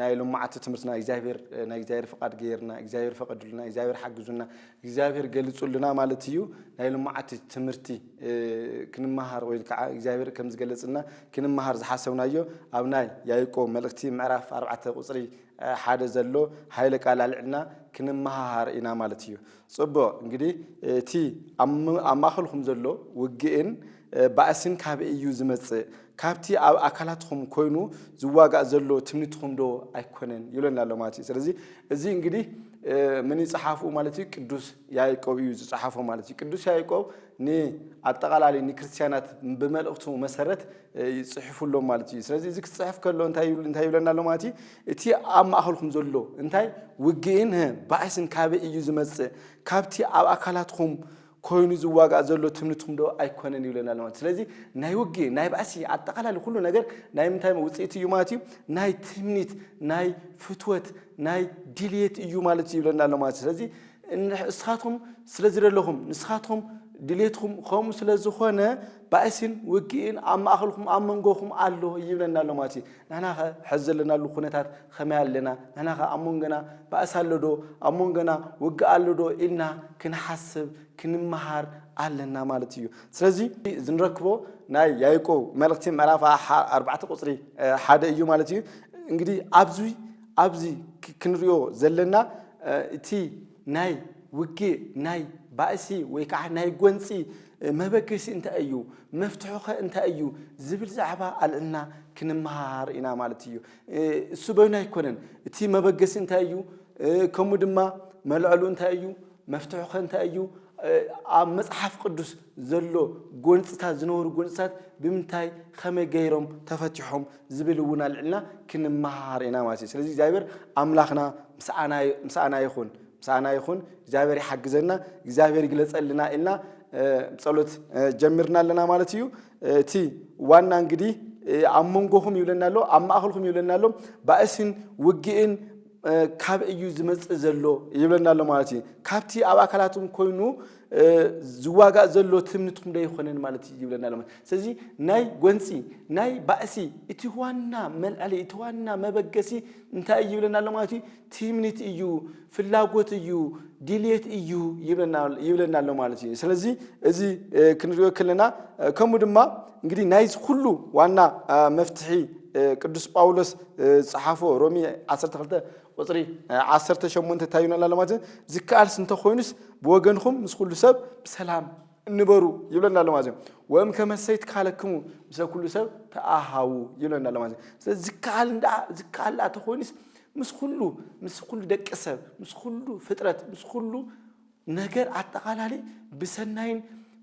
ናይ ሎማዓቲ ትምህርትና እግዚኣብሔር ናይ እግዚኣብሔር ፍቃድ ገይርና እግዚኣብሔር ፈቀድሉና እግዚኣብሔር ሓግዙና እግዚኣብሔር ገሊፁልና ማለት እዩ ናይ ሎማዓቲ ትምህርቲ ክንመሃር ወይ ከዓ እግዚኣብሔር ከም ዝገለፅልና ክንመሃር ዝሓሰብናዮ ኣብ ናይ ያይቆ መልእክቲ ምዕራፍ ኣርባዕተ ቁፅሪ ሓደ ዘሎ ሃይለ ቃል ኣልዕልና ክንመሃሃር ኢና ማለት እዩ ጽቡቕ እንግዲህ እቲ ኣብ ማእኸልኩም ዘሎ ውግእን ባእስን ካበይ እዩ ዝመጽእ? ካብቲ ኣብ ኣካላትኩም ኮይኑ ዝዋጋእ ዘሎ ትምኒትኩም ዶ ኣይኮነን ይብለና ኣሎ ማለት እዩ። ስለዚ እዚ እንግዲህ ምን ይጽሓፉ ማለት እዩ ቅዱስ ያዕቆብ እዩ ዝጽሓፎ ማለት እዩ። ቅዱስ ያዕቆብ ንኣጠቓላሊ ንክርስትያናት ብመልእኽቱ መሰረት ይጽሕፉሎም ማለት እዩ። ስለዚ እዚ ክጽሕፍ ከሎ እንታይ ይብለና ኣሎ ማለት እዩ እቲ ኣብ ማእከልኩም ዘሎ እንታይ ውግእን ህ ባእስን ካበይ እዩ ዝመጽእ ካብቲ ኣብ ኣካላትኩም ኮይኑ ዝዋጋእ ዘሎ ትምኒትኩም ዶ ኣይኮነን ይብለና ኣሎ ማለት ስለዚ ናይ ውግእ ናይ ባእሲ ኣጠቃላሊ ኩሉ ነገር ናይ ምንታይ ውጽኢት እዩ ማለት እዩ ናይ ትምኒት ናይ ፍትወት ናይ ድልየት እዩ ማለት እዩ ይብለና ኣሎ ማለት ስለዚ እስኻትኩም ስለ ዝደለኹም ንስኻትኩም ድሌትኩም ከምኡ ስለ ዝኾነ ባእሲን ውግእን ኣብ ማእኸልኩም ኣብ መንጎኹም ኣሎ ይብለና ኣሎ ማለት እዩ ንሕናኸ ሕዚ ዘለናሉ ኩነታት ኸመይ ኣለና? ንሕናኸ ኣብ መንጎና ባእሲ ኣሎዶ? ኣብ መንጎና ውግእ ኣሎዶ? ኢልና ክንሓስብ ክንመሃር ኣለና ማለት እዩ። ስለዚ እዚ ንረክቦ ናይ ያይቆ መልእኽቲ ምዕራፍ ኣርባዕተ ቁፅሪ ሓደ እዩ ማለት እዩ። እንግዲህ ኣብዚ ኣብዚ ክንሪኦ ዘለና እቲ ናይ ውግእ ናይ ባእሲ ወይ ከዓ ናይ ጎንፂ መበገሲ እንታይ እዩ? መፍትሑኸ እንታይ እዩ? ዝብል ዛዕባ ኣልዕልና ክንመሃሃር ኢና ማለት እዩ። እሱ በይኑ ኣይኮነን። እቲ መበገሲ እንታይ እዩ? ከምኡ ድማ መልዕሉ እንታይ እዩ? መፍትሑኸ እንታይ እዩ? ኣብ መጽሓፍ ቅዱስ ዘሎ ጎንፅታት ዝነበሩ ጎንፅታት ብምንታይ ከመይ ገይሮም ተፈቲሖም ዝብል እውን ኣልዕልና ክንመሃሃር ኢና ማለት እዩ። ስለዚ እግዚኣብሔር ኣምላኽና ምስኣና ይኹን። ምሳና ይኹን እግዚኣብሔር ይሓግዘና እግዚኣብሔር ይግለፀልና ኢልና ብፀሎት ጀምርና ኣለና ማለት እዩ እቲ ዋና እንግዲህ ኣብ መንጎኹም ይብለና ኣሎ ኣብ ማእኸልኩም ይብለና ኣሎ ባእስን ውግእን ካብ እዩ ዝመፅእ ዘሎ ይብለና ኣሎ ማለት እዩ ካብቲ ኣብ ኣካላትኩም ኮይኑ ዝዋጋእ ዘሎ ትምኒትኩም ዶ ይኮነን ማለት እዩ ይብለና ኣሎ ስለዚ ናይ ጎንፂ ናይ ባእሲ እቲ ዋና መልዕሊ እቲ ዋና መበገሲ እንታይ እዩ ይብለና ኣሎ ማለት እዩ ትምኒት እዩ፣ ፍላጎት እዩ፣ ድልየት እዩ ይብለና ኣሎ ማለት እዩ። ስለዚ እዚ ክንሪኦ ከለና ከምኡ ድማ እንግዲህ ናይዚ ኩሉ ዋና መፍትሒ ቅዱስ ጳውሎስ ዝጸሓፎ ሮሚ 12 ቁፅሪ 18 እንታይ ይብለና ኣሎ ማለት ዝከኣልስ እንተኮይኑስ ብወገንኹም ምስ ኩሉ ሰብ ብሰላም እንበሩ ይብለና ኣሎ ማለት ወም ከመሰይ ትካለክሙ ምስ ኩሉ ሰብ ተኣሃዉ ይብለና ኣሎ ማለት ስለዚ ዝከኣል እንዳ ዝከኣል ተኮይኑስ ምስ ኹሉ ምስ ኹሉ ደቂ ሰብ ምስ ኹሉ ፍጥረት ምስ ኹሉ ነገር ኣጠቓላሊ ብሰናይን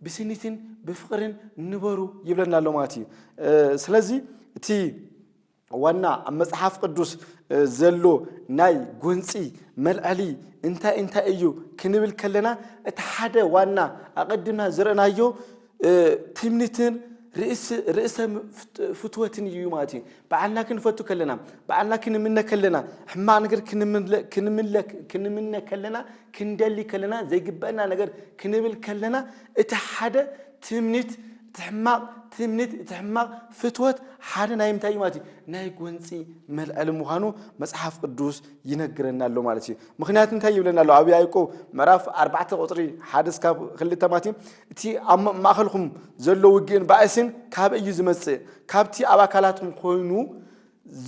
ብስኒትን ብፍቕርን ንበሩ ይብለና ኣሎ ማለት እዩ ስለዚ እቲ ዋና ኣብ መጽሓፍ ቅዱስ ዘሎ ናይ ጎንፂ መልዐሊ እንታይ እንታይ እዩ ክንብል ከለና እቲ ሓደ ዋና ኣቐድምና ዝረእናዮ ትምኒትን ርእሰ ፍትወትን እዩ ማለት እዩ። በዓልና ክንፈቱ ከለና፣ በዓልና ክንምነ ከለና፣ ሕማቕ ነገር ክንምለክ ክንምነ ከለና፣ ክንደሊ ከለና፣ ዘይግበአና ነገር ክንብል ከለና፣ እቲ ሓደ ትምኒት እቲ ሕማቕ ትምኒት እቲ ሕማቕ ፍትወት ሓደ ናይ ምንታይ እዩ ማለት እዩ ናይ ጎንፂ መልዐሊ ምዃኑ መፅሓፍ ቅዱስ ይነግረና ኣሎ ማለት እዩ ምክንያቱ እንታይ ይብለና ኣሎ ኣብ ያዕቆብ ምዕራፍ ኣርባዕተ ቁፅሪ ሓደ እስካብ ክልተ ማለት እዩ እቲ ኣብ ማእከልኩም ዘሎ ውግእን ባእስን ካበይ እዩ ዝመጽእ? ካብቲ ኣብ ኣካላትኩም ኮይኑ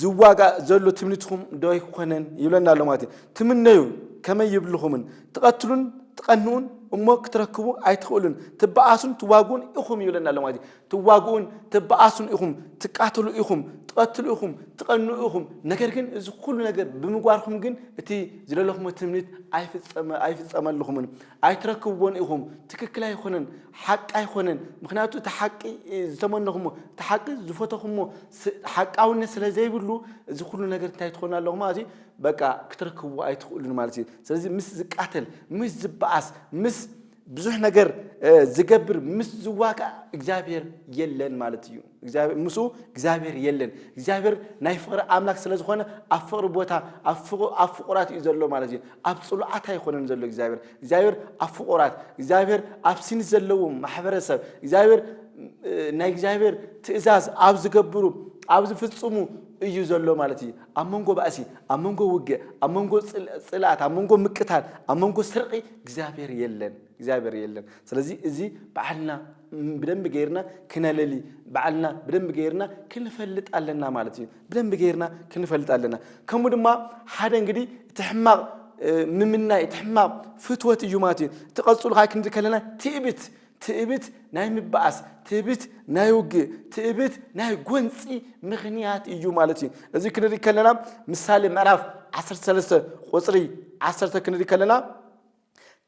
ዝዋጋእ ዘሎ ትምኒትኩም ዶ ኣይኮነን? ይብለና ኣሎ ማለት እዩ። ትምነዩ ከመይ ይብልኹምን ትቐትሉን ትቐንኡን እሞ ክትረክቡ ኣይትኽእሉን ትበኣሱን ትዋግኡን ኢኹም ይብለና ኣሎ ማለት እዩ። ትዋግኡን ትበኣሱን ኢኹም፣ ትቃተሉ ኢኹም፣ ትቐትሉ ኢኹም፣ ትቐንኡ ኢኹም። ነገር ግን እዚ ኩሉ ነገር ብምግባርኩም ግን እቲ ዝደለኹሞ ትምኒት ኣይፍጸመልኹምን። ኣይትረክብዎን ኢኹም ትክክል ኣይኾነን ሓቂ ኣይኾነን ምኽንያቱ እቲ ሓቂ ዝተመነኹሞ እቲ ሓቂ ዝፈተኹሞ ሓቃውነት ስለ ዘይብሉ እዚ ኩሉ ነገር እንታይ ትኾኑ ኣለኹም ማለት እዩ በቃ ክትረክብዎ ኣይትኽእሉን ማለት እዩ ስለዚ ምስ ዝቃተል ምስ ዝበኣስ ምስ ብዙሕ ነገር ዝገብር ምስ ዝዋጋእ እግዚኣብሔር የለን ማለት እዩ ምስኡ እግዚኣብሔር የለን። እግዚኣብሔር ናይ ፍቕሪ ኣምላክ ስለ ዝኾነ ኣብ ፍቕሪ ቦታ ኣብ ፍቑራት እዩ ዘሎ ማለት እዩ። ኣብ ጽሉዓት ኣይኮነን ዘሎ እግዚኣብሔር። እግዚኣብሔር ኣብ ፍቑራት፣ እግዚኣብሔር ኣብ ሲንት ዘለዉ ማሕበረሰብ፣ እግዚኣብሔር ናይ እግዚኣብሔር ትእዛዝ ኣብ ዝገብሩ ኣብ ዝፍጽሙ እዩ ዘሎ ማለት እዩ። ኣብ መንጎ ባእሲ፣ ኣብ መንጎ ውግእ፣ ኣብ መንጎ ጽልኣት፣ ኣብ መንጎ ምቅታል፣ ኣብ መንጎ ስርቂ እግዚኣብሔር የለን። እግዚኣብሔር የለን። ስለዚ እዚ በዓልና ብደንቢ ገይርና ክነለሊ ባዕልና ብደንቢ ገይርና ክንፈልጥ ኣለና ማለት እዩ ብደንቢ ገይርና ክንፈልጥ ኣለና ከምኡ ድማ ሓደ እንግዲህ እቲ ሕማቕ ምምናይ እቲ ሕማቕ ፍትወት እዩ ማለት እዩ እቲ ቀፅሉ ካዓ ክንዲ ከለና ትእብት ትእብት ናይ ምበኣስ ትእብት ናይ ውግእ ትእብት ናይ ጎንፂ ምክንያት እዩ ማለት እዩ እዚ ክንርኢ ከለና ምሳሌ ምዕራፍ 13 ቁፅሪ 1 ክንርኢ ከለና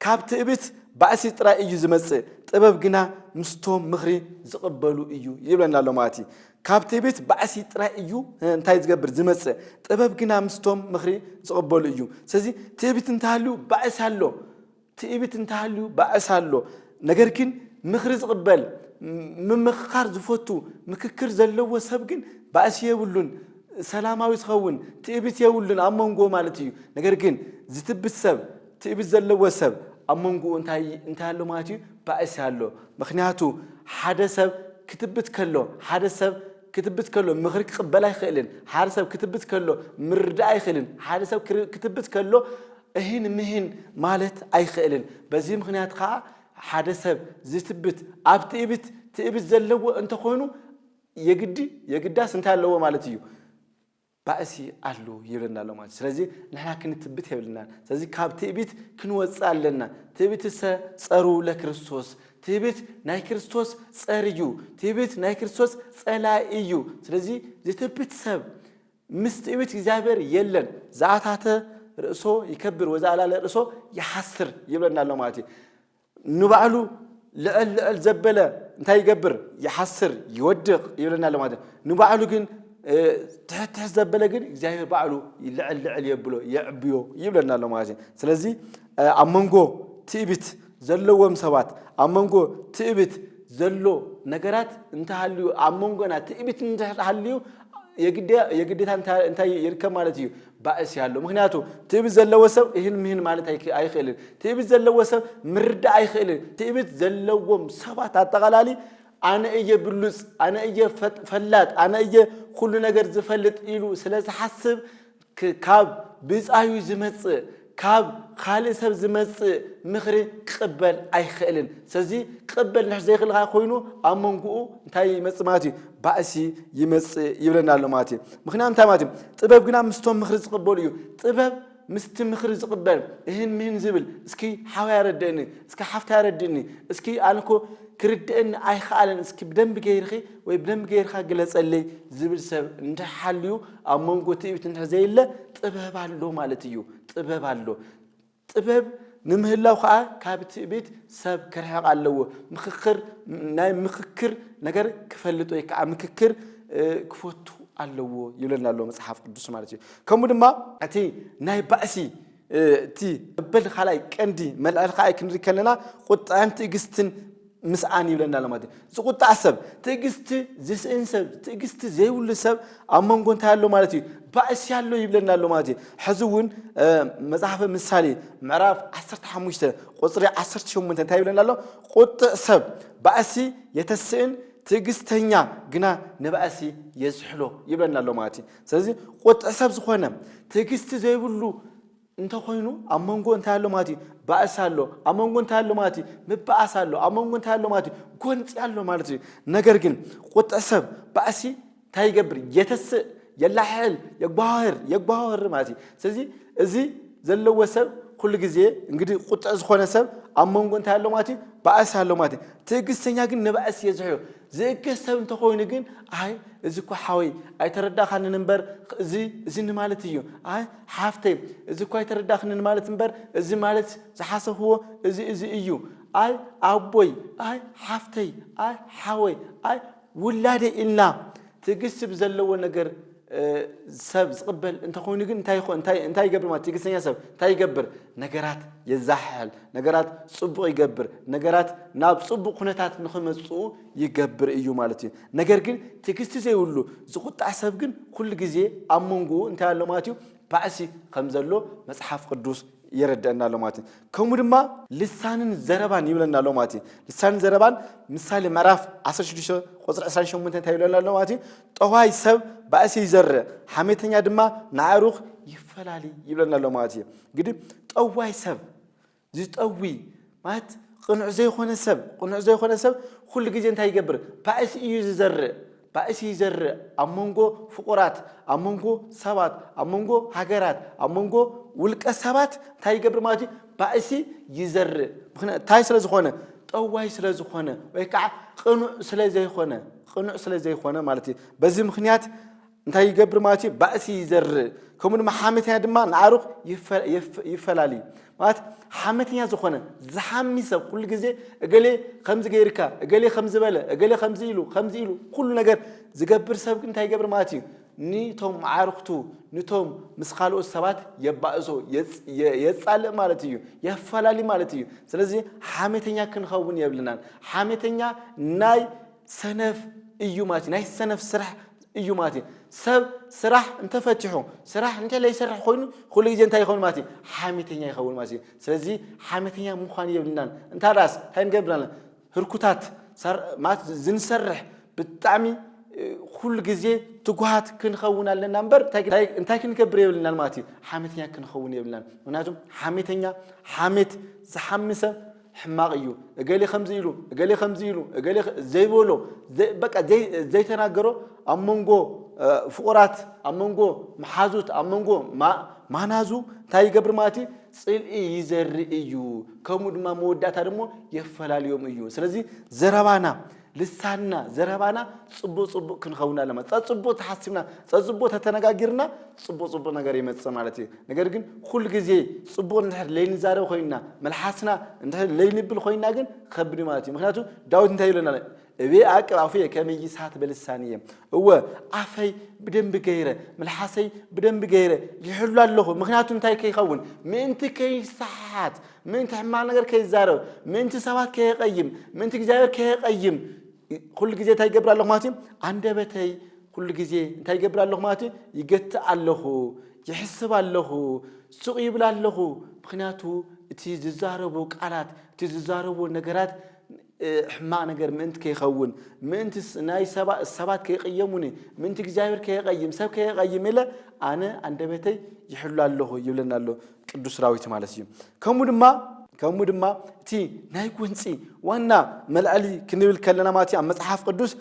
ካብ ትእብት ባእሲ ጥራይ እዩ ዝመጽእ ጥበብ ግና ምስቶም ምኽሪ ዝቕበሉ እዩ ይብለና ኣሎ ማለት እዩ ካብ ትእብት ባእሲ ጥራይ እዩ እንታይ ዝገብር ዝመጽእ ጥበብ ግና ምስቶም ምኽሪ ዝቕበሉ እዩ ስለዚ ትእብት እንተሃልዩ ባእሲ ኣሎ ትእብት እንተሃልዩ ባእሲ ኣሎ ነገር ግን ምኽሪ ዝቕበል ምምኽኻር ዝፈቱ ምክክር ዘለዎ ሰብ ግን ባእሲ የብሉን ሰላማዊ ዝኸውን ትእቢት የብሉን ኣብ መንጎ ማለት እዩ ነገር ግን ዝትብት ሰብ ትእቢት ዘለዎ ሰብ ኣብ መንጎኡ እንታይ እንታይ ኣሎ ማለት እዩ ባእሲ ኣሎ ምክንያቱ ሓደ ሰብ ክትብት ከሎ ሓደ ሰብ ክትብት ከሎ ምክሪ ክቕበል ኣይክእልን ሓደ ሰብ ክትብት ከሎ ምርዳእ ኣይክእልን ሓደ ሰብ ክትብት ከሎ እህን ምህን ማለት ኣይክእልን በዚ ምክንያት ከዓ ሓደ ሰብ ዝትብት ኣብ ትእብት ትእብት ዘለዎ እንተኾይኑ የግዲ የግዳስ እንታይ ኣለዎ ማለት እዩ ባእሲ ኣሎ ይብለና ኣሎ ማለት ስለዚ ንሕና ክንትብት የብልና ስለዚ ካብ ትእቢት ክንወፅእ ኣለና ትእቢት ሰ ፀሩ ለክርስቶስ ትህብት ናይ ክርስቶስ ጸር እዩ ትህብት ናይ ክርስቶስ ጸላይ እዩ ስለዚ ዝትብት ሰብ ምስ ትእብት እግዚኣብሔር የለን ዝኣታተ ርእሶ ይከብር ወዛ ኣላለ ርእሶ ይሓስር ይብለና ኣሎ ማለት እዩ ንባዕሉ ልዕል ልዕል ዘበለ እንታይ ይገብር ይሓስር ይወድቕ ይብለና ኣሎ ማለት ንባዕሉ ግን ትሕት ትሕት ዘበለ ግን እግዚኣብሔር ባዕሉ ልዕል ልዕል የብሎ የዕብዮ ይብለና ኣሎ ማለት እዩ ስለዚ ኣብ መንጎ ትእቢት ዘለዎም ሰባት ኣብ መንጎ ትእቢት ዘሎ ነገራት እንተሃልዩ ኣብ መንጎና ትእቢት እንተሃልዩ የግዴታ እንታይ ይርከብ ማለት እዩ ባእስ ያሎ ምክንያቱ ትእብት ዘለዎ ሰብ እህን ምህን ማለት ኣይክእልን ትእብት ዘለዎ ሰብ ምርዳእ ኣይክእልን ትእብት ዘለዎም ሰባት ኣጠቓላሊ ኣነ እየ ብሉፅ ኣነ እየ ፈላጥ ኣነ እየ ኩሉ ነገር ዝፈልጥ ኢሉ ስለ ዝሓስብ ካብ ብፃዩ ዝመፅእ ካብ ኻልእ ሰብ ዝመጽእ ምኽሪ ክቕበል ኣይኽእልን። ስለዚ ክቕበል እንድሕር ዘይኽእል ከኣ ኮይኑ ኣብ መንጎኡ እንታይ ይመጽእ ማለት እዩ? ባእሲ ይመጽእ ይብለና ኣሎ ማለት እዩ። ምኽንያቱ እንታይ ማለት እዩ? ጥበብ ግና ምስቶም ምኽሪ ዝቕበሉ እዩ። ጥበብ ምስቲ ምኽሪ ዝቕበል እህን ምህን ዝብል እስኪ ሓወይ ኣረድእኒ፣ እስኪ ሓፍተይ ኣረድእኒ፣ እስኪ ኣነ እኮ ክርድእኒ ኣይክኣለን እስኪ ብደንቢ ገይርኺ ወይ ብደንቢ ገይርካ ግለጸለይ ዝብል ሰብ እንድሕር ሓልዩ፣ ኣብ መንጎ ትዕቢት እንድሕር ዘየለ ጥበብ ኣሎ ማለት እዩ። ጥበብ ኣሎ። ጥበብ ንምህላው ከዓ ካብ ትዕቢት ሰብ ክርሕቕ ኣለዎ። ምክክር ናይ ምክክር ነገር ክፈልጥ ወይ ከዓ ምክክር ክፈቱ ኣለዎ ይብለና ኣሎ መፅሓፍ ቅዱስ ማለት እዩ ከምኡ ድማ እቲ ናይ ባእሲ እቲ እበል ካልኣይ ቀንዲ መልዕል ከኣ ክንርኢ ከለና ቁጣን ትዕግስትን ምስኣን ይብለና ኣሎ ማለት እዩ። ዝቁጣዕ ሰብ፣ ትዕግስቲ ዝስእን ሰብ፣ ትዕግስቲ ዘይብሉ ሰብ ኣብ መንጎ እንታይ ኣሎ ማለት እዩ? ባእሲ ኣሎ ይብለና ኣሎ ማለት እዩ። ሕዚ እውን መጽሓፈ ምሳሌ ምዕራፍ 15 ቁጽሪ 18 እንታይ ይብለና ኣሎ? ቁጥዕ ሰብ ባእሲ የተስእን ትዕግስተኛ ግና ንባእሲ የዝሕሎ ይብለና ኣሎ ማለት እዩ ስለዚ ቁጥዕ ሰብ ዝኾነ ትዕግስቲ ዘይብሉ እንተ ኾይኑ ኣብ መንጎ እንታይ ኣሎ ማለት እዩ? ባእሲ ኣሎ። ኣብ መንጎ እንታይ ኣሎ ማለት እዩ? ምባኣስ ኣሎ። ኣብ መንጎ እንታይ ኣሎ ማለት እዩ? ጎንጺ ኣሎ ማለት እዩ። ነገር ግን ቁጥዕ ሰብ ባእሲ እንታይ ይገብር? የተስእ፣ የላሕሕል፣ የጓሃህር፣ የጓሃህር ማለት እዩ። ስለዚ እዚ ዘለዎ ሰብ ኩሉ ግዜ እንግዲህ ቁጥዕ ዝኾነ ሰብ ኣብ መንጎ እንታይ ኣሎ ማለት እዩ ባእሲ ኣሎ ማለት እዩ። ትዕግስተኛ ግን ንባእሲ የዝሕሎ። ዝእገስ ሰብ እንተኾይኑ ግን ኣይ እዚ እኳ ሓወይ ኣይተረዳእኻንን እምበር እዚ እዚ ንማለት እዩ ኣይ ሓፍተይ እዚ እኳ ኣይተረዳእኽንን ማለት እምበር እዚ ማለት ዝሓሰብዎ እዚ እዚ እዩ ኣይ ኣቦይ ኣይ ሓፍተይ ኣይ ሓወይ ኣይ ውላደይ ኢልና ትዕግስቲ ብዘለዎ ነገር ሰብ ዝቕበል እንተ ኾይኑ ግን እንታይ ይኾ- እንታይ እንታይ ይገብር ማለት ትዕግስተኛ ሰብ እንታይ ይገብር ነገራት የዛሕሕል ነገራት ጽቡቕ ይገብር ነገራት ናብ ጽቡቕ ኩነታት ንኽመጽኡ ይገብር እዩ ማለት እዩ ነገር ግን ትዕግስቲ ዘይብሉ ዝቑጣዕ ሰብ ግን ኩሉ ግዜ ኣብ መንጎኡ እንታይ ኣሎ ማለት እዩ ባእሲ ከም ዘሎ መጽሓፍ ቅዱስ የረድአና ኣሎ ማለት እዩ ከምኡ ድማ ልሳንን ዘረባን ይብለና ኣሎ ማለት እዩ ልሳንን ዘረባን ምሳሌ ምዕራፍ 16 ቁጽሪ 28 እንታይ ይብለና ኣሎ ማለት እዩ ጠዋይ ሰብ ባእሲ ይዘርእ ሓሜተኛ ድማ ንኣዕሩኽ ይፈላሊ ይብለና ኣሎ ማለት እዩ እንግዲህ ጠዋይ ሰብ ዝጠዊ ማለት ቅኑዕ ዘይኮነ ሰብ ቅኑዕ ዘይኮነ ሰብ ኩሉ ግዜ እንታይ ይገብር ባእሲ እዩ ዝዘርእ ባእሲ ይዘርእ ኣብ መንጎ ፍቑራት ኣብ መንጎ ሰባት ኣብ መንጎ ሃገራት ኣብ መንጎ ውልቀ ሰባት እንታይ ይገብር ማለት እዩ ባእሲ ይዘርእ ምክንያት እንታይ ስለ ዝኾነ ጠዋይ ስለ ዝኾነ ወይ ከዓ ቅኑዕ ስለ ዘይኮነ ቕኑዕ ስለ ዘይኮነ ማለት እዩ በዚ ምክንያት እንታይ ይገብር ማለት እዩ ባእሲ ይዘርእ ከምኡ ድማ ሓመተኛ ድማ ንኣሩኽ ይፈላል እዩ ማለት ሓመተኛ ዝኾነ ዝሓሚ ሰብ ኩሉ ግዜ እገሌ ከምዚ ገይርካ እገሌ ከምዚ በለ እገሌ ከምዚ ኢሉ ከምዚ ኢሉ ኩሉ ነገር ዝገብር ሰብ እንታይ ይገብር ማለት እዩ ንቶም መዓርክቱ ንቶም ምስ ካልኦት ሰባት የባእሶ የጻልእ ማለት እዩ የፈላሊ ማለት እዩ ስለዚ ሓሜተኛ ክንኸውን የብልናን ሓሜተኛ ናይ ሰነፍ እዩ ማለት ናይ ሰነፍ ስራሕ እዩ ማለት እዩ ሰብ ስራሕ እንተፈቲሑ ስራሕ እንተ ዘይሰርሕ ኮይኑ ኩሉ ግዜ እንታይ ይኸውን ማለት እዩ ሓሜተኛ ይኸውን ማለት እዩ ስለዚ ሓሜተኛ ምዃን የብልናን እንታዳስ እንታይ ንገብር ኣለና ህርኩታት ሰር ማለት ዝንሰርሕ ብጣዕሚ ኩሉ ግዜ ትጉሃት ክንኸውን ኣለና እምበር እንታይ ክንገብር የብልናን ማለት እዩ ሓሜተኛ ክንኸውን የብልናን ምክንያቱ ሓሜተኛ ሓሜት ዝሓሚ ሰብ ሕማቕ እዩ እገሌ ከምዚ ኢሉ እገሌ ከምዚ ኢሉ እገሌ ዘይበሎ በቃ ዘይተናገሮ ኣብ መንጎ ፍቑራት ኣብ መንጎ መሓዙት ኣብ መንጎ ማናዙ እንታይ ይገብር ማለት እዩ ጽልኢ ይዘርእ እዩ፣ ከምኡ ድማ መወዳእታ ደሞ የፈላልዮም እዩ። ስለዚ ዘረባና፣ ልሳንና፣ ዘረባና ጽቡቕ ጽቡቕ ክንኸውን ኣለና። ጸጽቡቕ ተሓሲብና፣ ጸጽቡቕ ተተነጋጊርና ጽቡቕ ጽቡቕ ነገር ይመጽእ ማለት እዩ። ነገር ግን ኩሉ ግዜ ጽቡቕ እንድሕር ለይንዛረብ ኮይንና፣ መልሓስና እንድሕር ለይንብል ኮይንና ግን ከብድ ማለት እዩ። ምክንያቱ ዳዊት እንታይ ይብለና ኣሎ? እቤ ኣቅብ ኣፉየ ከመ ይስሓት በልሳንየ፣ እወ ኣፈይ ብደንቢ ገይረ ምልሓሰይ ብደንቢ ገይረ ይሕሉ ኣለኹ፣ ምኽንያቱ እንታይ ከይኸውን ምእንቲ ከይሰሓሓት ምእንቲ ሕማቕ ነገር ከይዛረብ ምእንቲ ሰባት ከየቀይም ምእንቲ እግዚኣብሔር ከየቀይም ኩሉ ግዜ እንታይ ይገብር ኣለኹ ማለት እዩ ኣንደበተይ ኩሉ ግዜ እንታይ ይገብር ኣለኹ ማለት እዩ ይገትእ ኣለኹ ይሕስብ ኣለኹ ሱቕ ይብል ኣለኹ ምክንያቱ እቲ ዝዛረቡ ቃላት እቲ ዝዛረቡ ነገራት ሕማቕ ነገር ምእንቲ ከይኸውን፣ ምእንቲ ናይ ሰባት ከይቕየሙኒ፣ ምእንቲ እግዚኣብሔር ከየቐይም፣ ሰብ ከየቐይም ኢለ ኣነ ኣንደበተይ ይሕሉ ኣለኹ ይብለና ኣሎ ቅዱስ ዳዊት ማለት እዩ። ከምኡ ድማ ከምኡ ድማ እቲ ናይ ጎንፂ ዋና መልዐሊ ክንብል ከለና ማለት እዩ ኣብ መፅሓፍ ቅዱስ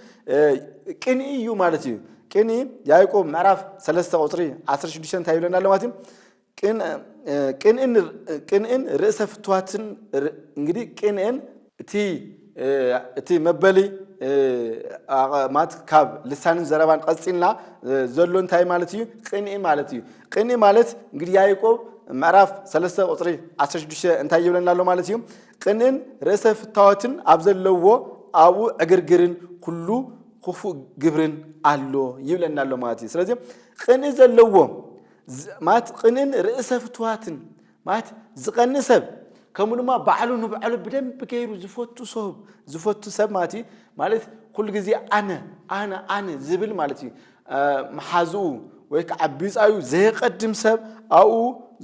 ቅንኢ እዩ ማለት እዩ። ቅንኢ ያዕቆብ ምዕራፍ 3 ቁፅሪ 16 እንታይ ይብለና ኣሎ ማለት እዩ ቅንእን ርእሰ ፍትዋትን እንግዲህ ቅንእን እቲ መበሊ ማለት ካብ ልሳንን ዘረባን ቀፂልና ዘሎ እንታይ ማለት እዩ? ቅንኢ ማለት እዩ። ቅንኢ ማለት እንግዲህ ያዕቆብ ምዕራፍ 3 ቁፅሪ 16 እንታይ ይብለና ኣሎ ማለት እዩ? ቅንእን ርእሰ ፍታወትን ኣብ ዘለዎ ኣብኡ ዕግርግርን ኩሉ ክፉእ ግብርን ኣሎ ይብለና ኣሎ ማለት እዩ። ስለዚ ቅንኢ ዘለዎ ማለት ቕንእን ርእሰ ፍትዋትን ማለት ዝቐንእ ሰብ ከምኡ ድማ ባዕሉ ንባዕሉ ብደንብ ገይሩ ዝፈቱ ሰብ ዝፈቱ ሰብ ማለት እዩ ማለት ኩሉ ግዜ ኣነ ኣነ ኣነ ዝብል ማለት እዩ መሓዝኡ ወይ ከዓ ቢፃዩ ዘየቀድም ሰብ ኣብኡ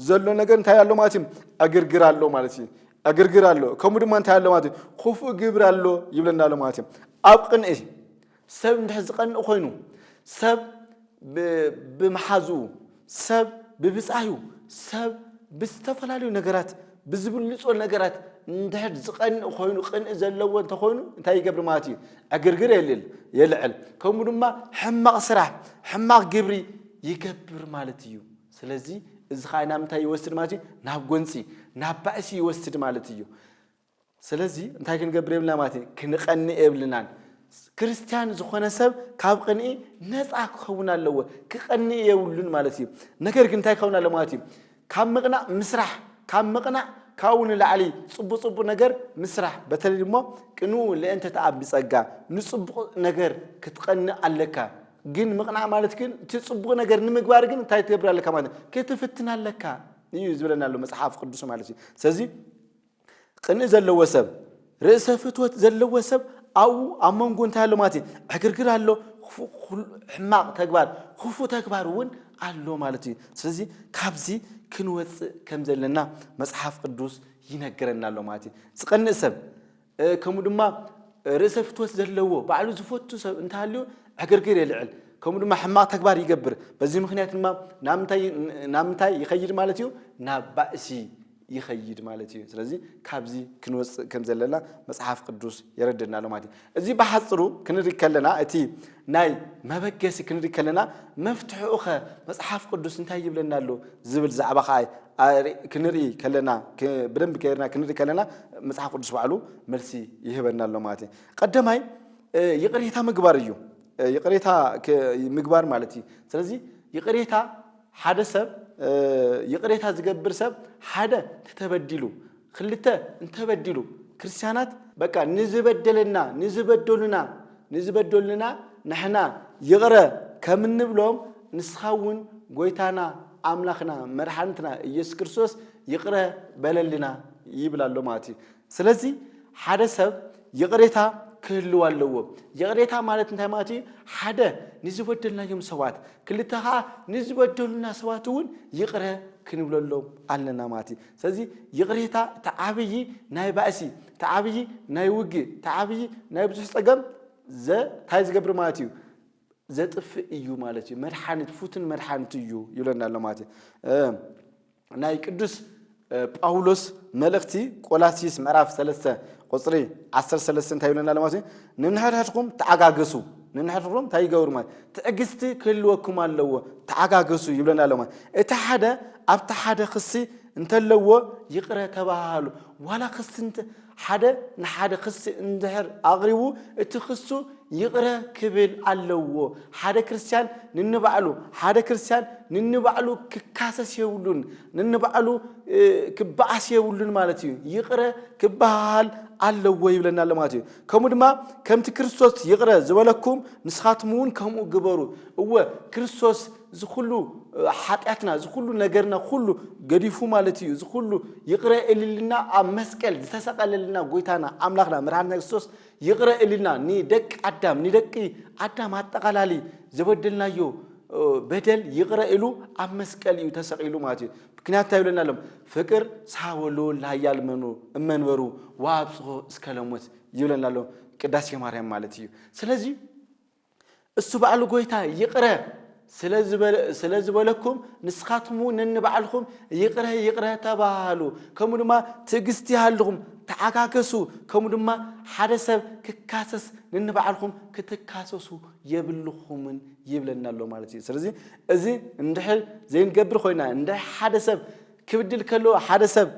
ዘሎ ነገር እንታይ ኣሎ ማለት እዩ ዕግርግር ኣሎ ማለት እዩ ዕግርግር ኣሎ ከምኡ ድማ እንታይ ኣሎ ማለት እዩ ክፉእ ግብሪ ኣሎ ይብለና ኣሎ ማለት እዩ ኣብ ቅንኢ ሰብ እንድሕር ዝቀንእ ኮይኑ፣ ሰብ ብምሓዙኡ፣ ሰብ ብብጻዩ፣ ሰብ ብዝተፈላለዩ ነገራት ብዝብልጾ ነገራት እንድሕር ዝቀንእ ኮይኑ ቅንኢ ዘለዎ እንተኾይኑ እንታይ ይገብር ማለት እዩ? ዕግርግር የልዕል የልዕል ከምኡ ድማ ሕማቕ ስራሕ ሕማቕ ግብሪ ይገብር ማለት እዩ። ስለዚ እዚ ከዓ ናብ ምንታይ ይወስድ ማለት እዩ? ናብ ጎንጺ ናብ ባእሲ ይወስድ ማለት እዩ። ስለዚ እንታይ ክንገብር የብልና ማለት እዩ ክንቐንእ የብልናን ክርስትያን ዝኾነ ሰብ ካብ ቕንኢ ነፃ ክኸውን ኣለዎ ክቐንእ የብሉን ማለት እዩ ነገር ግን እንታይ ክኸውን ኣለ ማለት እዩ ካብ ምቕናእ ምስራሕ ካብ ምቕናእ ካብኡ ንላዕሊ ፅቡቅ ፅቡቅ ነገር ምስራሕ በተለይ ድሞ ቅንኡ ልእንተ ተኣብ ብፀጋ ንፅቡቅ ነገር ክትቀንእ ኣለካ ግን ምቕናእ ማለት ግን እቲ ፅቡቅ ነገር ንምግባር ግን እንታይ ትገብር ኣለካ ማለት ክትፍትን ኣለካ እዩ ዝብለና ኣሎ መፅሓፍ ቅዱስ ማለት እዩ ስለዚ ቕንኢ ዘለዎ ሰብ፣ ርእሰ ፍትወት ዘለዎ ሰብ ኣብኡ ኣብ መንጎ እንታይ ኣሎ ማለት እዩ? ዕግርግር ኣሎ፣ ሕማቕ ተግባር፣ ክፉእ ተግባር እውን ኣሎ ማለት እዩ። ስለዚ ካብዚ ክንወፅእ ከም ዘለና መፅሓፍ ቅዱስ ይነገረና ኣሎ ማለት እዩ። ዝቐንእ ሰብ ከምኡ ድማ ርእሰ ፍትወት ዘለዎ ባዕሉ ዝፈቱ ሰብ እንተሃልዩ ዕግርግር የልዕል ከምኡ ድማ ሕማቕ ተግባር ይገብር በዚ ምክንያት ድማ ናብ ምንታይ ይኸይድ ማለት እዩ ናብ ባእሲ ይኸይድ ማለት እዩ። ስለዚ ካብዚ ክንወፅእ ከም ዘለና መፅሓፍ ቅዱስ የረድእና ኣሎ ማለት እዩ። እዚ ብሓፅሩ ክንርኢ ከለና እቲ ናይ መበገሲ ክንርኢ ከለና መፍትሕኡ ኸ መፅሓፍ ቅዱስ እንታይ ይብለና ኣሎ ዝብል ዛዕባ ከዓ ክንርኢ ከለና ብደንብ ከይርና ክንርኢ ከለና መፅሓፍ ቅዱስ ባዕሉ መልሲ ይህበና ኣሎ ማለት እዩ ቀደማይ ይቅሬታ ምግባር እዩ ይቅሬታ ምግባር ማለት እዩ ስለዚ ይቅሬታ ሓደ ሰብ ይቕሬታ ዝገብር ሰብ ሓደ ተተበዲሉ ክልተ እንተበዲሉ ክርስቲያናት በቃ ንዝበደለና ንዝበደሉና ንዝበደሉና ንሕና ይቕረ ከም እንብሎም ንስኻ እውን ጎይታና ኣምላኽና መድሓኒትና ኢየሱስ ክርስቶስ ይቕረ በለልና ይብል ኣሎ ማለት እዩ ስለዚ ሓደ ሰብ ይቕሬታ ክህልው ኣለዎ። ይቕሬታ ማለት እንታይ ማለት እዩ? ሓደ ንዝበደልናዮም ሰባት፣ ክልተ ከዓ ንዝበደሉና ሰባት እውን ይቕረ ክንብለሎም ኣለና ማለት እዩ። ስለዚ ይቕሬታ እቲ ዓብዪ ናይ ባእሲ፣ እቲ ዓብዪ ናይ ውግእ፣ እቲ ዓብዪ ናይ ብዙሕ ፀገም እንታይ ዝገብር ማለት እዩ? ዘጥፍእ እዩ ማለት እዩ መድሓኒት ፉትን መድሓኒት እዩ ይብለና ኣሎ ማለት እዩ ናይ ቅዱስ ጳውሎስ መልእኽቲ ቆላሲስ ምዕራፍ 3 ቁፅሪ 13 እንታይ ይብለና ኣሎ ማለት እዩ ንንሕድሕድኩም ተዓጋገሱ ንንሕድሕድኩም እንታይ ይገብሩ ማለት ትዕግስቲ ክህልወኩም ኣለዎ ተዓጋገሱ ይብለና ኣሎ ማለት እቲ ሓደ ኣብቲ ሓደ ክሲ እንተለዎ ይቕረ ተባሃሉ ዋላ ክሲ ሓደ ንሓደ ክሲ እንድሕር ኣቕሪቡ እቲ ክሱ ይቕረ ክብል ኣለዎ። ሓደ ክርስትያን ንንባዕሉ ሓደ ክርስትያን ንንባዕሉ ክካሰስ የብሉን፣ ንንባዕሉ ክበኣስ የብሉን ማለት እዩ። ይቕረ ክበሃሃል ኣለዎ ይብለና ኣሎ ማለት እዩ። ከምኡ ድማ ከምቲ ክርስቶስ ይቕረ ዝበለኩም ንስኻትኩም እውን ከምኡ ግበሩ። እወ ክርስቶስ እዚ ኩሉ ሓጢኣትና እዚ ኩሉ ነገርና ኩሉ ገዲፉ ማለት እዩ እዚ ኩሉ ይቕረ እልልና ኣብ መስቀል ዝተሰቐለልና ጎይታና ኣምላኽና መድሓኒትና ክርስቶስ ይቕረ እልልና ንደቂ ኣዳም ንደቂ ኣዳም ኣጠቓላሊ ዘበደልናዮ በደል ይቕረ ኢሉ ኣብ መስቀል እዩ ተሰቒሉ ማለት እዩ ምክንያት እንታይ ይብለና ኣሎም ፍቅር ሳወሉ ለሃያል መኑ እመንበሩ ወኣብጽሖ እስከ ለሞት ይብለና ኣሎ ቅዳሴ ማርያም ማለት እዩ ስለዚ እሱ ባዕሉ ጎይታ ይቕረ ስለ ዝበለኩም ንስኻትኩም እውን ነንባዕልኹም ይቕረ ይቕረ ተባሃሃሉ ከምኡ ድማ ትዕግስቲ ይሃልኹም ተዓጋገሱ ከምኡ ድማ ሓደ ሰብ ክካሰስ ነንባዕልኹም ክትካሰሱ የብልኹምን ይብለና ኣሎ ማለት እዩ ስለዚ እዚ እንድሕር ዘይንገብር ኮይና እንድሕር ሓደ ሰብ ክብድል ከሎ ሓደ ሰብ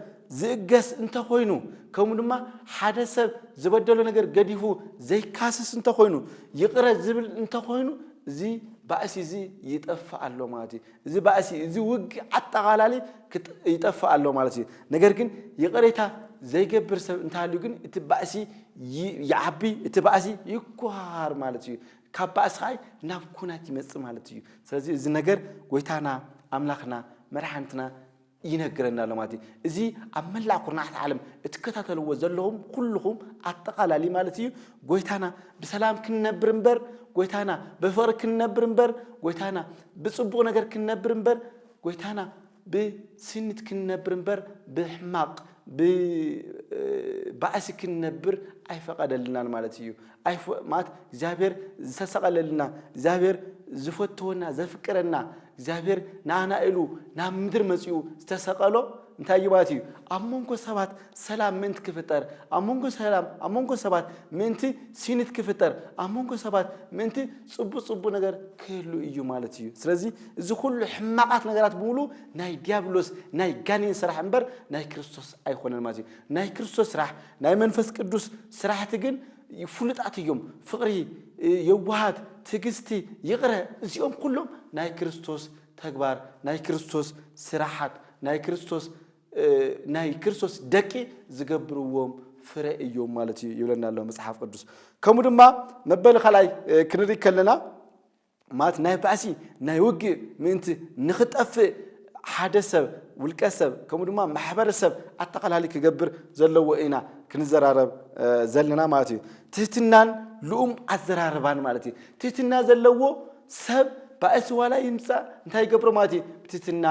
ዝእገስ እንተ ዀይኑ፣ ከምኡ ድማ ሓደ ሰብ ዝበደሎ ነገር ገዲፉ ዘይካስስ እንተ ዀይኑ፣ ይቕረ ዝብል እንተ ዀይኑ፣ እዚ ባእሲ እዚ ይጠፍእ ኣሎ ማለት እዩ። እዚ ባእሲ እዚ ውግእ ኣጠቓላሊ ይጠፍእ ኣሎ ማለት እዩ። ነገር ግን ይቕሬታ ዘይገብር ሰብ እንተሃልዩ ግን እቲ ባእሲ ይዓቢ፣ እቲ ባእሲ ይኰሃሃር ማለት እዩ። ካብ ባእሲ ኸኣ ናብ ኩናት ይመጽእ ማለት እዩ ስለዚ እዚ ነገር ጎይታና ኣምላኽና መድሓንትና ይነግረና ኣሎ ማለት እዩ እዚ ኣብ መላእ ኩርናዓት ዓለም እትከታተልዎ ዘለኹም ኩልኹም ኣጠቓላሊ ማለት እዩ ጎይታና ብሰላም ክንነብር እምበር ጎይታና ብፍቕሪ ክንነብር እምበር ጎይታና ብጽቡቕ ነገር ክንነብር እምበር ጎይታና ብስኒት ክንነብር እምበር ብሕማቕ ብባእሲ ክንነብር ኣይፈቐደልናን ማለት እዩ። ማለት እግዚኣብሔር ዝተሰቐለልና፣ እግዚኣብሔር ዝፈትወና፣ ዘፍቅረና፣ እግዚኣብሔር ንኣና ኢሉ ናብ ምድሪ መጺኡ ዝተሰቐሎ እንታይ እዩ ማለት እዩ? ኣብ መንጎ ሰባት ሰላም ምእንቲ ክፍጠር፣ ኣብ መንጎ ሰላም ኣብ መንጎ ሰባት ምእንቲ ስኒት ክፍጠር፣ ኣብ መንጎ ሰባት ምእንቲ ጽቡቕ ጽቡቕ ነገር ክህሉ እዩ ማለት እዩ። ስለዚ እዚ ኩሉ ሕማቃት ነገራት ብምሉ ናይ ዲያብሎስ ናይ ጋኔን ስራሕ እምበር ናይ ክርስቶስ ኣይኮነን ማለት እዩ ናይ ክርስቶስ ስራሕ ናይ መንፈስ ቅዱስ ስራሕቲ ግን ፍሉጣት እዮም ፍቅሪ የዋሃት ትግስቲ ይቅረ እዚኦም ኩሎም ናይ ክርስቶስ ተግባር ናይ ክርስቶስ ስራሓት ናይ ክርስቶስ ናይ ክርስቶስ ደቂ ዝገብርዎም ፍረ እዮም ማለት እዩ ይብለና ኣሎ መጽሓፍ ቅዱስ ከምኡ ድማ መበል ካልኣይ ክንርኢ ከለና ማለት ናይ ባእሲ ናይ ውግእ ምእንቲ ንኽጠፍእ ሓደ ሰብ ውልቀ ሰብ ከምኡ ድማ ማሕበረሰብ ኣጠቓላሊ ክገብር ዘለዎ ኢና ክንዘራረብ ዘለና ማለት እዩ። ትህትናን ልኡም ኣዘራርባን ማለት እዩ። ትህትና ዘለዎ ሰብ ባእሲ ዋላ ይምፃእ እንታይ ይገብሮ ማለት እዩ ብትህትና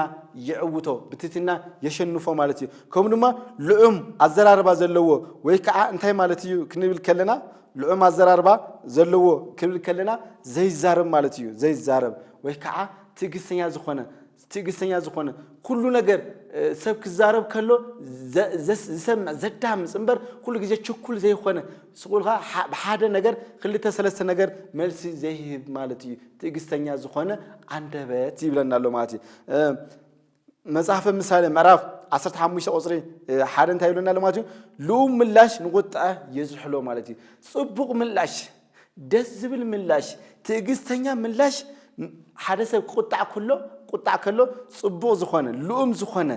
ይዕውቶ ብትህትና የሸንፎ ማለት እዩ። ከምኡ ድማ ልዑም ኣዘራርባ ዘለዎ ወይ ከዓ እንታይ ማለት እዩ ክንብል ከለና ልዑም ኣዘራርባ ዘለዎ ክብል ከለና ዘይዛረብ ማለት እዩ። ዘይዛረብ ወይ ከዓ ትዕግስተኛ ዝኾነ ትዕግስተኛ ዝኾነ ኩሉ ነገር ሰብ ክዛረብ ከሎ ዝሰምዕ ዘዳምፅ እምበር ኩሉ ግዜ ችኩል ዘይኮነ ስቁልካ ብሓደ ነገር ክልተ ሰለስተ ነገር መልሲ ዘይህብ ማለት እዩ ትዕግስተኛ ዝኾነ ኣንደበት ይብለና ኣሎ ማለት እዩ መጽሓፈ ምሳሌ ምዕራፍ ዓሰርተ ሓሙሽተ ቁፅሪ እ፣ ሓደ እንታይ ይብለና ኣሎ ማለት እዩ ልኡም ምላሽ ንቁጥዐ የዝሕሎ ማለት እዩ ፅቡቅ ምላሽ ደስ ዝብል ምላሽ ትዕግስተኛ ምላሽ ን- ሓደ ሰብ ክቁጣዕ ከሎ ቁጣዕ ከሎ ፅቡቅ ዝኾነ ልኡም ዝኾነ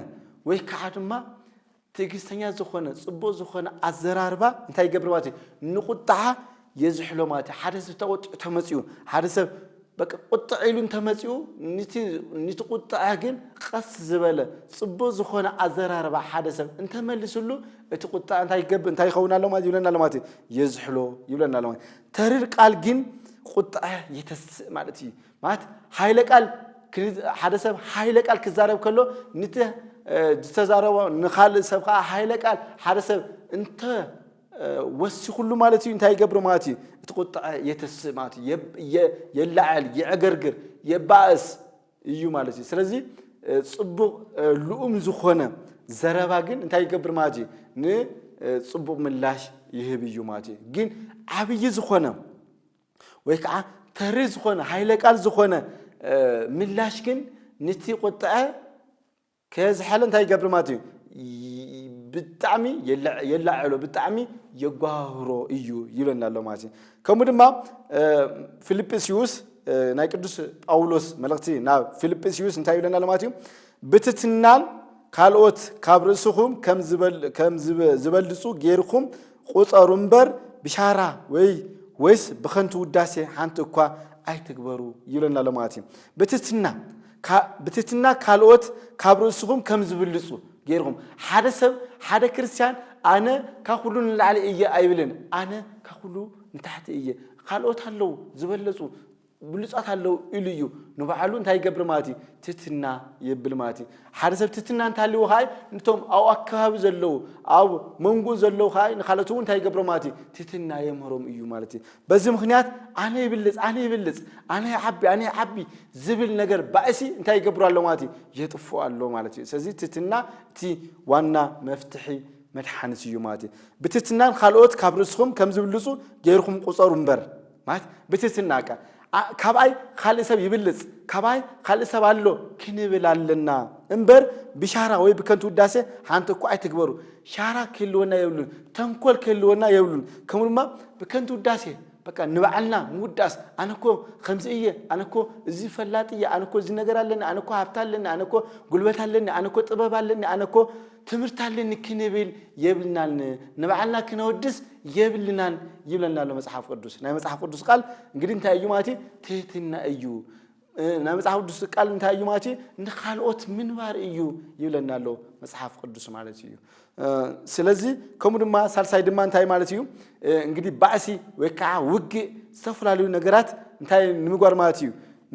ወይ ከዓ ድማ ትዕግስተኛ ዝኾነ ጽቡቕ ዝኾነ ኣዘራርባ እንታይ ይገብር ማለት እዩ ንቁጥዓ የዝሕሎ ማለት እዩ። ሓደ ሰብ ተቆጢዑ ተመጺኡ ሓደ ሰብ በቃ ቁጥዕ ኢሉ እንተመጺኡ ንቲ ንቲ ቁጥዐ ግን ቀስ ዝበለ ጽቡቕ ዝኾነ ኣዘራርባ ሓደ ሰብ እንተመልስሉ እቲ ቁጥዐ እንታይ ይገብር እንታይ ይኸውን ኣሎ ማለት ይብለና ኣሎ ማለት እዩ የዝሕሎ ይብለና ኣሎ ማለት ተርር ቃል ግን ቁጥዐ የተስእ ማለት እዩ። ማለት ሓይለ ቃል ሓደ ሰብ ሓይለ ቃል ክዛረብ ከሎ ንቲ ዝተዛረቦ ንካልእ ሰብ ከዓ ሓይለ ቃል ሓደ ሰብ እንተ ወሲኹሉ ማለት እዩ እንታይ ይገብር ማለት እዩ እቲ ቁጥዐ የተስእ ማለት እዩ የላዕል የዕገርግር የባእስ እዩ ማለት እዩ ስለዚ ፅቡቕ ልኡም ዝኾነ ዘረባ ግን እንታይ ይገብር ማለት እዩ ንፅቡቕ ምላሽ ይህብ እዩ ማለት እዩ ግን ዓብዪ ዝኾነ ወይ ከዓ ተሪ ዝኾነ ሃይለ ቃል ዝኾነ ምላሽ ግን ንቲ ቁጥዐ ከዝሐለ እንታይ ይገብር ማለት እዩ ብጣዕሚ የላዕሎ ብጣዕሚ የጓህሮ እዩ ይብለና ኣሎ ማለት እዩ ከምኡ ድማ ፊልጵስዩስ ናይ ቅዱስ ጳውሎስ መልእኽቲ ናብ ፊልጵስዩስ እንታይ ይብለና ኣሎ ማለት እዩ ብትትናን ካልኦት ካብ ርእስኹም ከም ዝበልፁ ጌርኩም ቍጸሩ እምበር ብሻራ ወይ ወይስ ብኸንቱ ውዳሴ ሓንቲ እኳ ኣይትግበሩ ይብለና ኣሎ ማለት እዩ። ብትሕትና ብትሕትና ካልኦት ካብ ርእስኹም ከም ዝብልጹ ገይርኩም ሓደ ሰብ ሓደ ክርስትያን ኣነ ካብ ኩሉ ንላዕሊ እየ ኣይብልን። ኣነ ካብ ኩሉ ንታሕቲ እየ ካልኦት ኣለዉ ዝበለጹ ብሉጻት ኣለዉ ኢሉ እዩ ንባዕሉ እንታይ ይገብር ማለት እዩ ትትና የብል ማለት እዩ ሓደ ሰብ ትትና እንተሃልዎ ከዓ ንቶም ኣብ ኣከባቢ ዘለዉ ኣብ መንጎ ዘለዉ ከዓ ንካልኦት እውን እንታይ ይገብሮ ማለት እዩ ትትና የምህሮም እዩ ማለት እዩ በዚ ምክንያት ኣነ ይብልፅ ኣነ ይብልፅ ኣነ ይዓቢ ኣነ ይዓቢ ዝብል ነገር ባእሲ እንታይ ይገብሩ ኣሎ ማለት እዩ የጥፉ ኣሎ ማለት እዩ ስለዚ ትትና እቲ ዋና መፍትሒ መድሓኒት እዩ ማለት እዩ ብትትናን ካልኦት ካብ ርእስኹም ከም ዝብልፁ ገይርኩም ቁፀሩ እምበር ማለት ብትትና እካ ካብኣይ ካልእ ሰብ ይብልጽ ካባይ ካልእ ሰብ ኣሎ ክንብል ኣለና እምበር ብሻራ ወይ ብከንቱ ውዳሴ ሓንቲ እኳ ኣይትግበሩ ሻራ ክህልወና የብሉን ተንኮል ክህልወና የብሉን ከምኡ ድማ ብከንቱ ውዳሴ በቃ ንባዕልና ምውዳስ ኣነ እኮ ከምዚ እየ ኣነ እኮ እዚ ፈላጥ እየ ኣነ እኮ እዚ ነገር ኣለኒ ኣነ እኮ ሃብቲ ኣለኒ ኣነ እኮ ጉልበት ኣለኒ ኣነ እኮ ጥበብ ኣለኒ ኣነ እኮ ትምህርቲ ኣለኒ ክንብል የብልናን ንባዕልና ክነወድስ የብልናን ይብለና ኣሎ መጽሓፍ ቅዱስ። ናይ መጽሓፍ ቅዱስ ቃል እንግዲህ እንታይ እዩ ማለት ትህትና እዩ። ናይ መጽሓፍ ቅዱስ ቃል እንታይ እዩ ማለት ንካልኦት ምንባር እዩ ይብለና ኣሎ መጽሓፍ ቅዱስ ማለት እዩ። ስለዚ ከምኡ ድማ ሳልሳይ ድማ እንታይ ማለት እዩ እንግዲህ ባእሲ ወይ ከዓ ውግእ ዝተፈላለዩ ነገራት እንታይ ንምጓር ማለት እዩ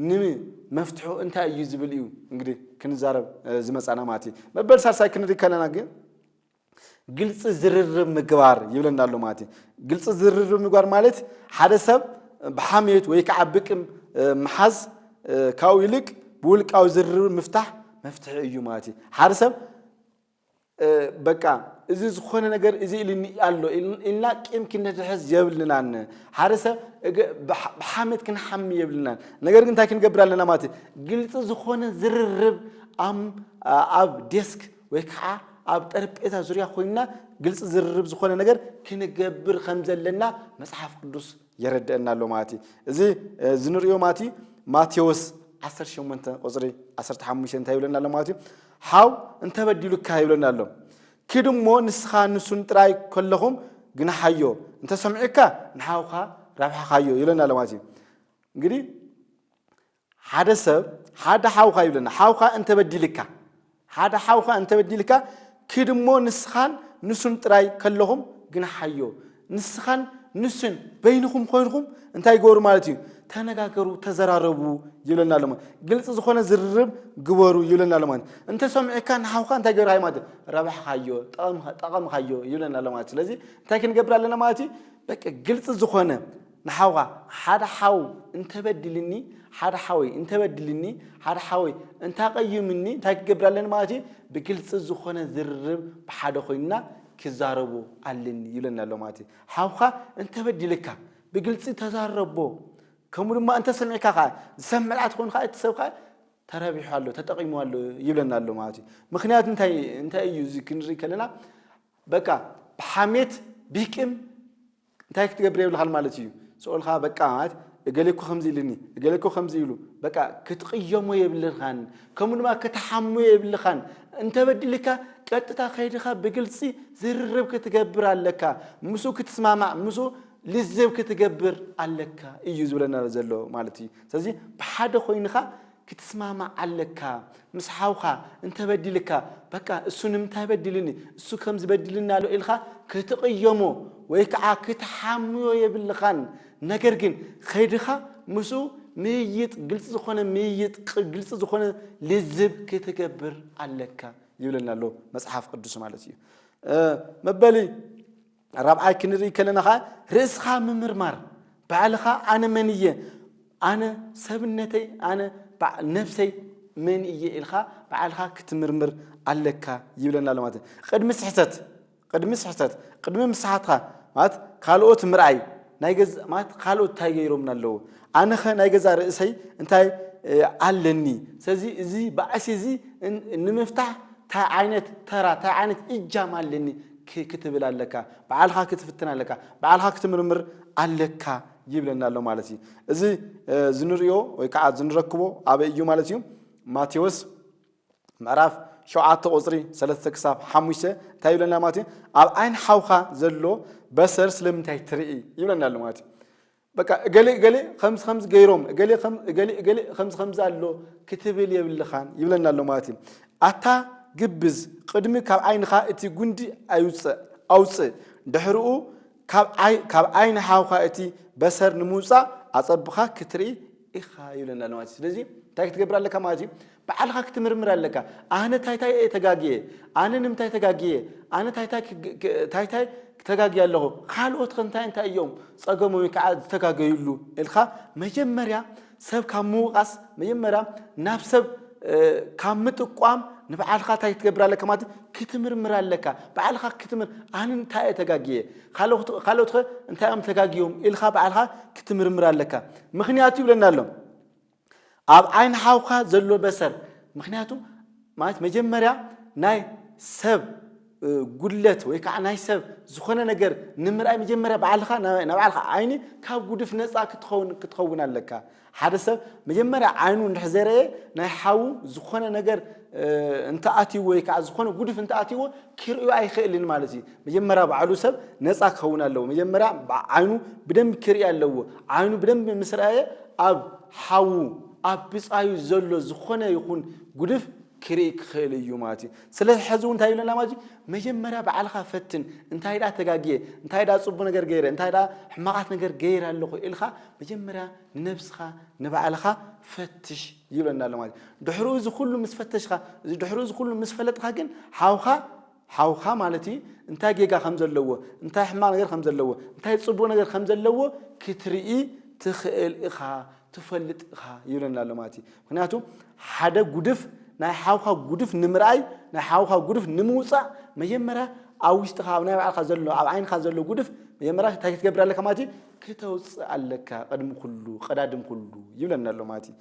ንመፍትሑ እንታይ እዩ ዝብል እዩ እንግዲህ ክንዛረብ ዝመፃና ማለት እዩ። መበል ሳልሳይ ክንሪኢ ከለና ግን ግልፂ ዝርርብ ምግባር ይብለና ኣሎ ማለት እዩ ግልፂ ዝርርብ ምግባር ማለት ሓደ ሰብ ብሓሜት ወይ ከዓ ብቅም ምሓዝ ካብኡ ይልቅ ብውልቃዊ ዝርርብ ምፍታሕ መፍትሒ እዩ ማለት እዩ ሓደ ሰብ በቃ እዚ ዝኾነ ነገር እዚ ኢልኒ ኣሎ ኢልና ቂም ክንሕዝ የብልናን ሓደ ሰብ ብሓሜት ክንሓሚ የብልናን ነገር ግን እንታይ ክንገብር ኣለና ማለት እዩ ግልፂ ዝኾነ ዝርርብ ኣብ ዴስክ ወይ ከዓ ኣብ ጠረጴዛ ዙርያ ኮይንና ግልፂ ዝርርብ ዝኾነ ነገር ክንገብር ከም ዘለና መፅሓፍ ቅዱስ የረድአና ኣሎ ማለት እዩ እዚ ዝንሪኦ ማለት እዩ ማቴዎስ 18 ቁፅሪ 15 እንታይ ይብለና ኣሎ ማለት እዩ ሓው እንተበዲሉካ ይብለና ኣሎ ክድ እሞ ንስኻ ንሱን ጥራይ ከለኹም ግናሓዮ እንተሰምዑካ ንሓውካ ራብሓኻዮ ይብለና ኣሎ ማለት እዩ እንግዲህ ሓደ ሰብ ሓደ ሓውካ ይብለና ሓውካ እንተበዲልካ ሓደ ሓውካ እንተበዲልካ ክድ እሞ ንስኻን ንሱን ጥራይ ከለኹም ግን ሓዮ ንስኻን ንሱን በይንኹም ኮይንኹም እንታይ ግበሩ ማለት እዩ ተነጋገሩ ተዘራረቡ ይብለና ኣሎ ማለት ግልፂ ዝኾነ ዝርርብ ግበሩ ይብለና ኣሎ ማለት እንተሰሚዕካ ንሓውካ እንታይ ገብርካ ማለት እዩ ረብሕካዮ ጠቐምካዮ ይብለና ኣሎ ማለት ስለዚ እንታይ ክንገብር ኣለና ማለት እዩ በቂ ግልፂ ዝኾነ ንሓውካ ሓደ ሓው እንተ በዲልኒ ሓደ ሓወይ እንተ በዲልኒ ሓደ ሓወይ እንታ ቀዩምኒ እንታይ ክገብር ኣለኒ ማለት እዩ ብግልጺ ዝኾነ ዝርርብ ብሓደ ኮይንና ክዛረቡ ኣለኒ ይብለና ኣሎ ማለት እዩ ሓውካ እንተ በዲልካ ብግልጺ ተዛረቦ ከምኡ ድማ እንተ ሰሚዕካ ከዓ ዝሰምዕ ድኣ ትኾን ከዓ እቲ ሰብ ከዓ ተረቢሑ ኣሎ ተጠቂሙ ኣሎ ይብለና ኣሎ ማለት እዩ ምክንያቱ እንታይ እንታይ እዩ እዚ ክንርኢ ከለና በቃ ብሓሜት ቢቅም እንታይ ክትገብር የብልካን ማለት ኢዩ ስኦልካ በቃ ማለት እገሌ እኮ ከምዚ ኢልኒ እገሌ እኮ ከምዚ ኢሉ በቃ ክትቕየሞ የብልካን ከምኡ ድማ ክትሓሙ የብልካን እንተበዲልካ ቀጥታ ከይድካ ብግልፂ ዝርርብ ክትገብር ኣለካ ምስኡ ክትስማማዕ ምስኡ ልዝብ ክትገብር ኣለካ እዩ ዝብለና ዘሎ ማለት እዩ ስለዚ ብሓደ ኮይንካ ክትስማማዕ ኣለካ ምስ ሓውካ እንተበዲልካ በቃ እሱ ንምንታይ በዲልኒ እሱ ከምዚ በዲልኒ ኣሎ ኢልካ ክትቕየሞ ወይ ከዓ ክትሓምዮ የብልኻን ነገር ግን ከይድኻ ምስኡ ምይይጥ ግልፂ ዝኾነ ምይይጥ ግልፂ ዝኾነ ልዝብ ክትገብር ኣለካ ይብለና ኣሎ መፅሓፍ ቅዱስ ማለት እዩ መበሊ ራብዓይ ክንርኢ ከለና ከኣ ርእስኻ ምምርማር ባዕልኻ ኣነ መን እየ ኣነ ሰብነተይ ኣነ ነብሰይ መን እየ ኢልካ ባዕልኻ ክትምርምር ኣለካ ይብለና ኣሎ ማለት ቅድሚ ስሕተት ቅድሚ ስሕተት ቅድሚ ምስሓትካ ማለት ካልኦት ምርኣይ ናይ ገዛ ማለት ካልኦት እንታይ ገይሮምና ኣለዉ ኣነኸ ናይ ገዛ ርእሰይ እንታይ ኣለኒ ስለዚ እዚ ባእሲ እዚ ንምፍታሕ እንታይ ዓይነት ተራ እንታይ ዓይነት እጃም ኣለኒ ክ ክትብል ኣለካ፣ ብዓልካ ክትፍትን ኣለካ፣ ብዓልካ ክትምርምር ኣለካ ይብለና ኣሎ ማለት እዩ። እዚ ዝንርእዮ ወይ ከዓ ዝንረክቦ ኣበይ እዩ ማለት እዩ? ማቴዎስ ምዕራፍ ሸውዓተ ቁፅሪ ሰለስተ ክሳብ ሓሙሽተ እንታይ ይብለና ማለት እዩ? ኣብ ዓይን ሓውካ ዘሎ በሰር ስለምንታይ ትርኢ ይብለና ኣሎ ማለት እዩ። በቃ እገሌ እገሌ ከምዚ ከምዚ ገይሮም እገሌ እገሌ እገሌ ከምዚ ከምዚ ኣሎ ክትብል የብልኻን ይብለና ኣሎ ማለት እዩ ኣታ ግብዝ ቅድሚ ካብ ዓይንኻ እቲ ጉንዲ ኣይውፅእ ኣውፅእ ድሕርኡ ካብ ዓይኒ ሓውካ እቲ በሰር ንምውፃእ ኣፀብኻ ክትርኢ ኢኻ ይብለና ኣሎ ማለት እዩ ስለዚ እንታይ ክትገብር ኣለካ ማለት እዩ ብዓልኻ ክትምርምር ኣለካ ኣህነ ታይ ታይ እየ ተጋግየ ኣነ ንምታይ ተጋግየ ኣነ ታይ ታይ ታይ ታይ ተጋግየ ኣለኹ ካልኦት ከ እንታይ እንታይ እዮም ፀገሞም ወይ ከዓ ዝተጋገዩሉ እልካ መጀመርያ ሰብ ካብ ምውቃስ መጀመርያ ናብ ሰብ ካብ ምጥቋም ንብዓልኻ ታይ ክትገብር ኣለካ ማለት ክትምርምር ኣለካ ብዓልኻ ክትምር ኣነ እንታይ እየ ተጋግየ ካልኦት ከ እንታይ እዮም ተጋግዮም ኢልካ ብዓልኻ ክትምርምር ኣለካ ምክንያቱ ይብለና ኣሎ ኣብ ዓይኒ ሓውካ ዘሎ በሰር ምክንያቱ ማለት መጀመርያ ናይ ሰብ ጉድለት ወይ ከዓ ናይ ሰብ ዝኾነ ነገር ንምርኣይ መጀመርያ ባዕልኻ ናይ ባዕልኻ ዓይኒ ካብ ጉድፍ ነፃ ክትኸውን ክትኸውን ኣለካ ሓደ ሰብ መጀመርያ ዓይኑ እንድሕር ዘይረየ ናይ ሓዉ ዝኾነ ነገር እንተኣትይዎ ወይ ከዓ ዝኾነ ጉድፍ እንተኣትይዎ ክርእዩ ኣይኽእልን ማለት እዩ። መጀመርያ ባዕሉ ሰብ ነፃ ክኸውን ኣለዎ። መጀመርያ ዓይኑ ብደንብ ክርኢ ኣለዎ። ዓይኑ ብደንብ ምስ ረኣየ ኣብ ሓዉ ኣብ ብፃዩ ዘሎ ዝኾነ ይኹን ጉድፍ ክርኢ ክኽእል እዩ ማለት እዩ። ስለዚ ሕዚ እውን እንታይ ይብለና ማለት እዩ መጀመርያ ባዕልኻ ፈትን እንታይ ደኣ ተጋግየ እንታይ ደኣ ፅቡቅ ነገር ገይረ እንታይ ደኣ ሕማቃት ነገር ገይረ ኣለኹ ኢልካ መጀመርያ ንነብስኻ ንባዕልኻ ፈትሽ ይብለና ኣሎ ማለት እዩ። ድሕሩ እዚ ኩሉ ምስ ፈተሽኻ ድሕሩ እዚ ኩሉ ምስ ፈለጥኻ ግን ሓውኻ ሓውኻ ማለት እዩ እንታይ ጌጋ ከም ዘለዎ እንታይ ሕማቕ ነገር ከም ዘለዎ እንታይ ጽቡቕ ነገር ከም ዘለዎ ክትርኢ ትኽእል ኢኻ ትፈልጥ ኢኻ ይብለና ኣሎ ማለት እዩ ምክንያቱ ሓደ ጉድፍ ናይ ሓውካ ጉድፍ ንምርኣይ ናይ ሓውካ ጉድፍ ንምውፃእ መጀመርያ ኣብ ውሽጥኻ ኣብ ናይ ባዕልካ ዘሎ ኣብ ዓይንካ ዘሎ ጉድፍ መጀመርያ እንታይ ክትገብር ኣለካ ማለት እዩ ክተውጽእ ኣለካ ቅድሚ ኩሉ ቀዳድም ኩሉ ይብለና ኣሎ ማለት እዩ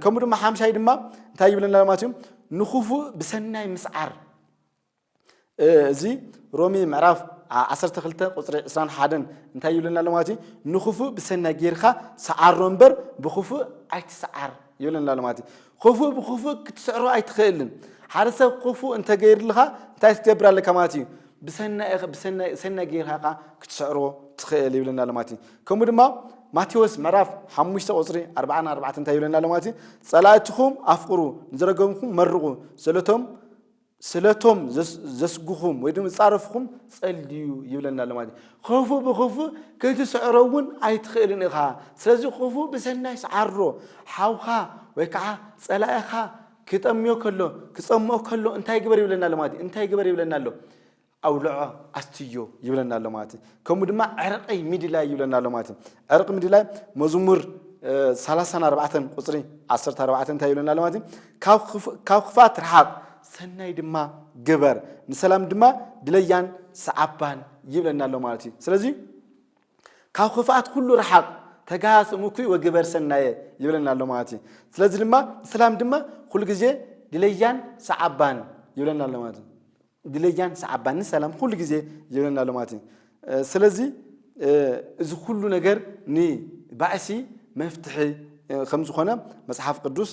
ከምኡ ድማ ሓምሻይ ድማ እንታይ ይብለና ኣሎ ማለት እዩ ንክፉእ ብሰናይ ምስዓር እዚ ሮሚ ምዕራፍ 12 ቁፅሪ 21 እንታይ ይብለና ኣሎ ማለት እዩ ንክፉእ ብሰናይ ጌርካ ሰዓሮ እምበር ብክፉእ ኣይትሰዓር ይብለና ኣሎ ማለት እዩ ክፉእ ብክፉእ ክትስዕሮ ኣይትኽእልን ሓደ ሰብ ክፉእ እንተገይርልካ እንታይ ክትገብር ኣለካ ማለት እዩ ብሰናይኸ ብሰናይ ሰናይ ጌርካ ከኣ ክትስዕሮ ትኽእል ይብለና ኣሎ ማለት እዩ ከምኡ ድማ ማቴዎስ ምዕራፍ ሓሙሽተ ቁፅሪ ኣርባዓን ኣርባዕተ እንታይ ይብለና ኣሎ ማለት እዩ ፀላእትኹም ኣፍቅሩ ንዝረገምኩም መርቑ ስለቶም ስለቶም ዘስጉኹም ወይ ድማ ዝፃረፍኹም ፀልዩ ይብለና ኣሎ ማለት እዩ ክፉ ብክፉ ክትስዕሮ እውን ኣይትኽእልን ኢኻ ስለዚ ክፉ ብሰናይ ስዓሮ ሓውካ ወይ ከዓ ፀላኢኻ ክጠምዮ ከሎ ክጸምኦ ከሎ እንታይ ግበር ይብለና ኣሎ ማለት እዩ። እንታይ ግበር ይብለና ኣሎ? ኣውልዖ ኣስትዮ ይብለና ኣሎ ማለት እዩ። ከምኡ ድማ ዕርቀይ ምድላይ ይብለና ኣሎ ማለት እዩ። ዕርቂ ምድላይ መዝሙር ሰላሳን ኣርባዕተን ቁፅሪ ዓሰርተ ኣርባዕተ እንታይ ይብለና ኣሎ ማለት እዩ። ካብ ክፋት ረሓቕ ሰናይ ድማ ግበር ንሰላም ድማ ድለያን ሰዓባን ይብለና ኣሎ ማለት እዩ። ስለዚ ካብ ክፍኣት ኩሉ ርሓቕ ተጋሃስ እምኩይ ወግበር ሰናየ ይብለና ኣሎ ማለት እዩ። ስለዚ ድማ ንሰላም ድማ ኩሉ ግዜ ድለያን ሰዓባን ይብለና ኣሎ ማለት እዩ። ድለያን ሰዓባን ንሰላም ኩሉ ግዜ ይብለና ኣሎ ማለት እዩ። ስለዚ እዚ ኩሉ ነገር ንባእሲ መፍትሒ ከም ዝኾነ መጽሓፍ ቅዱስ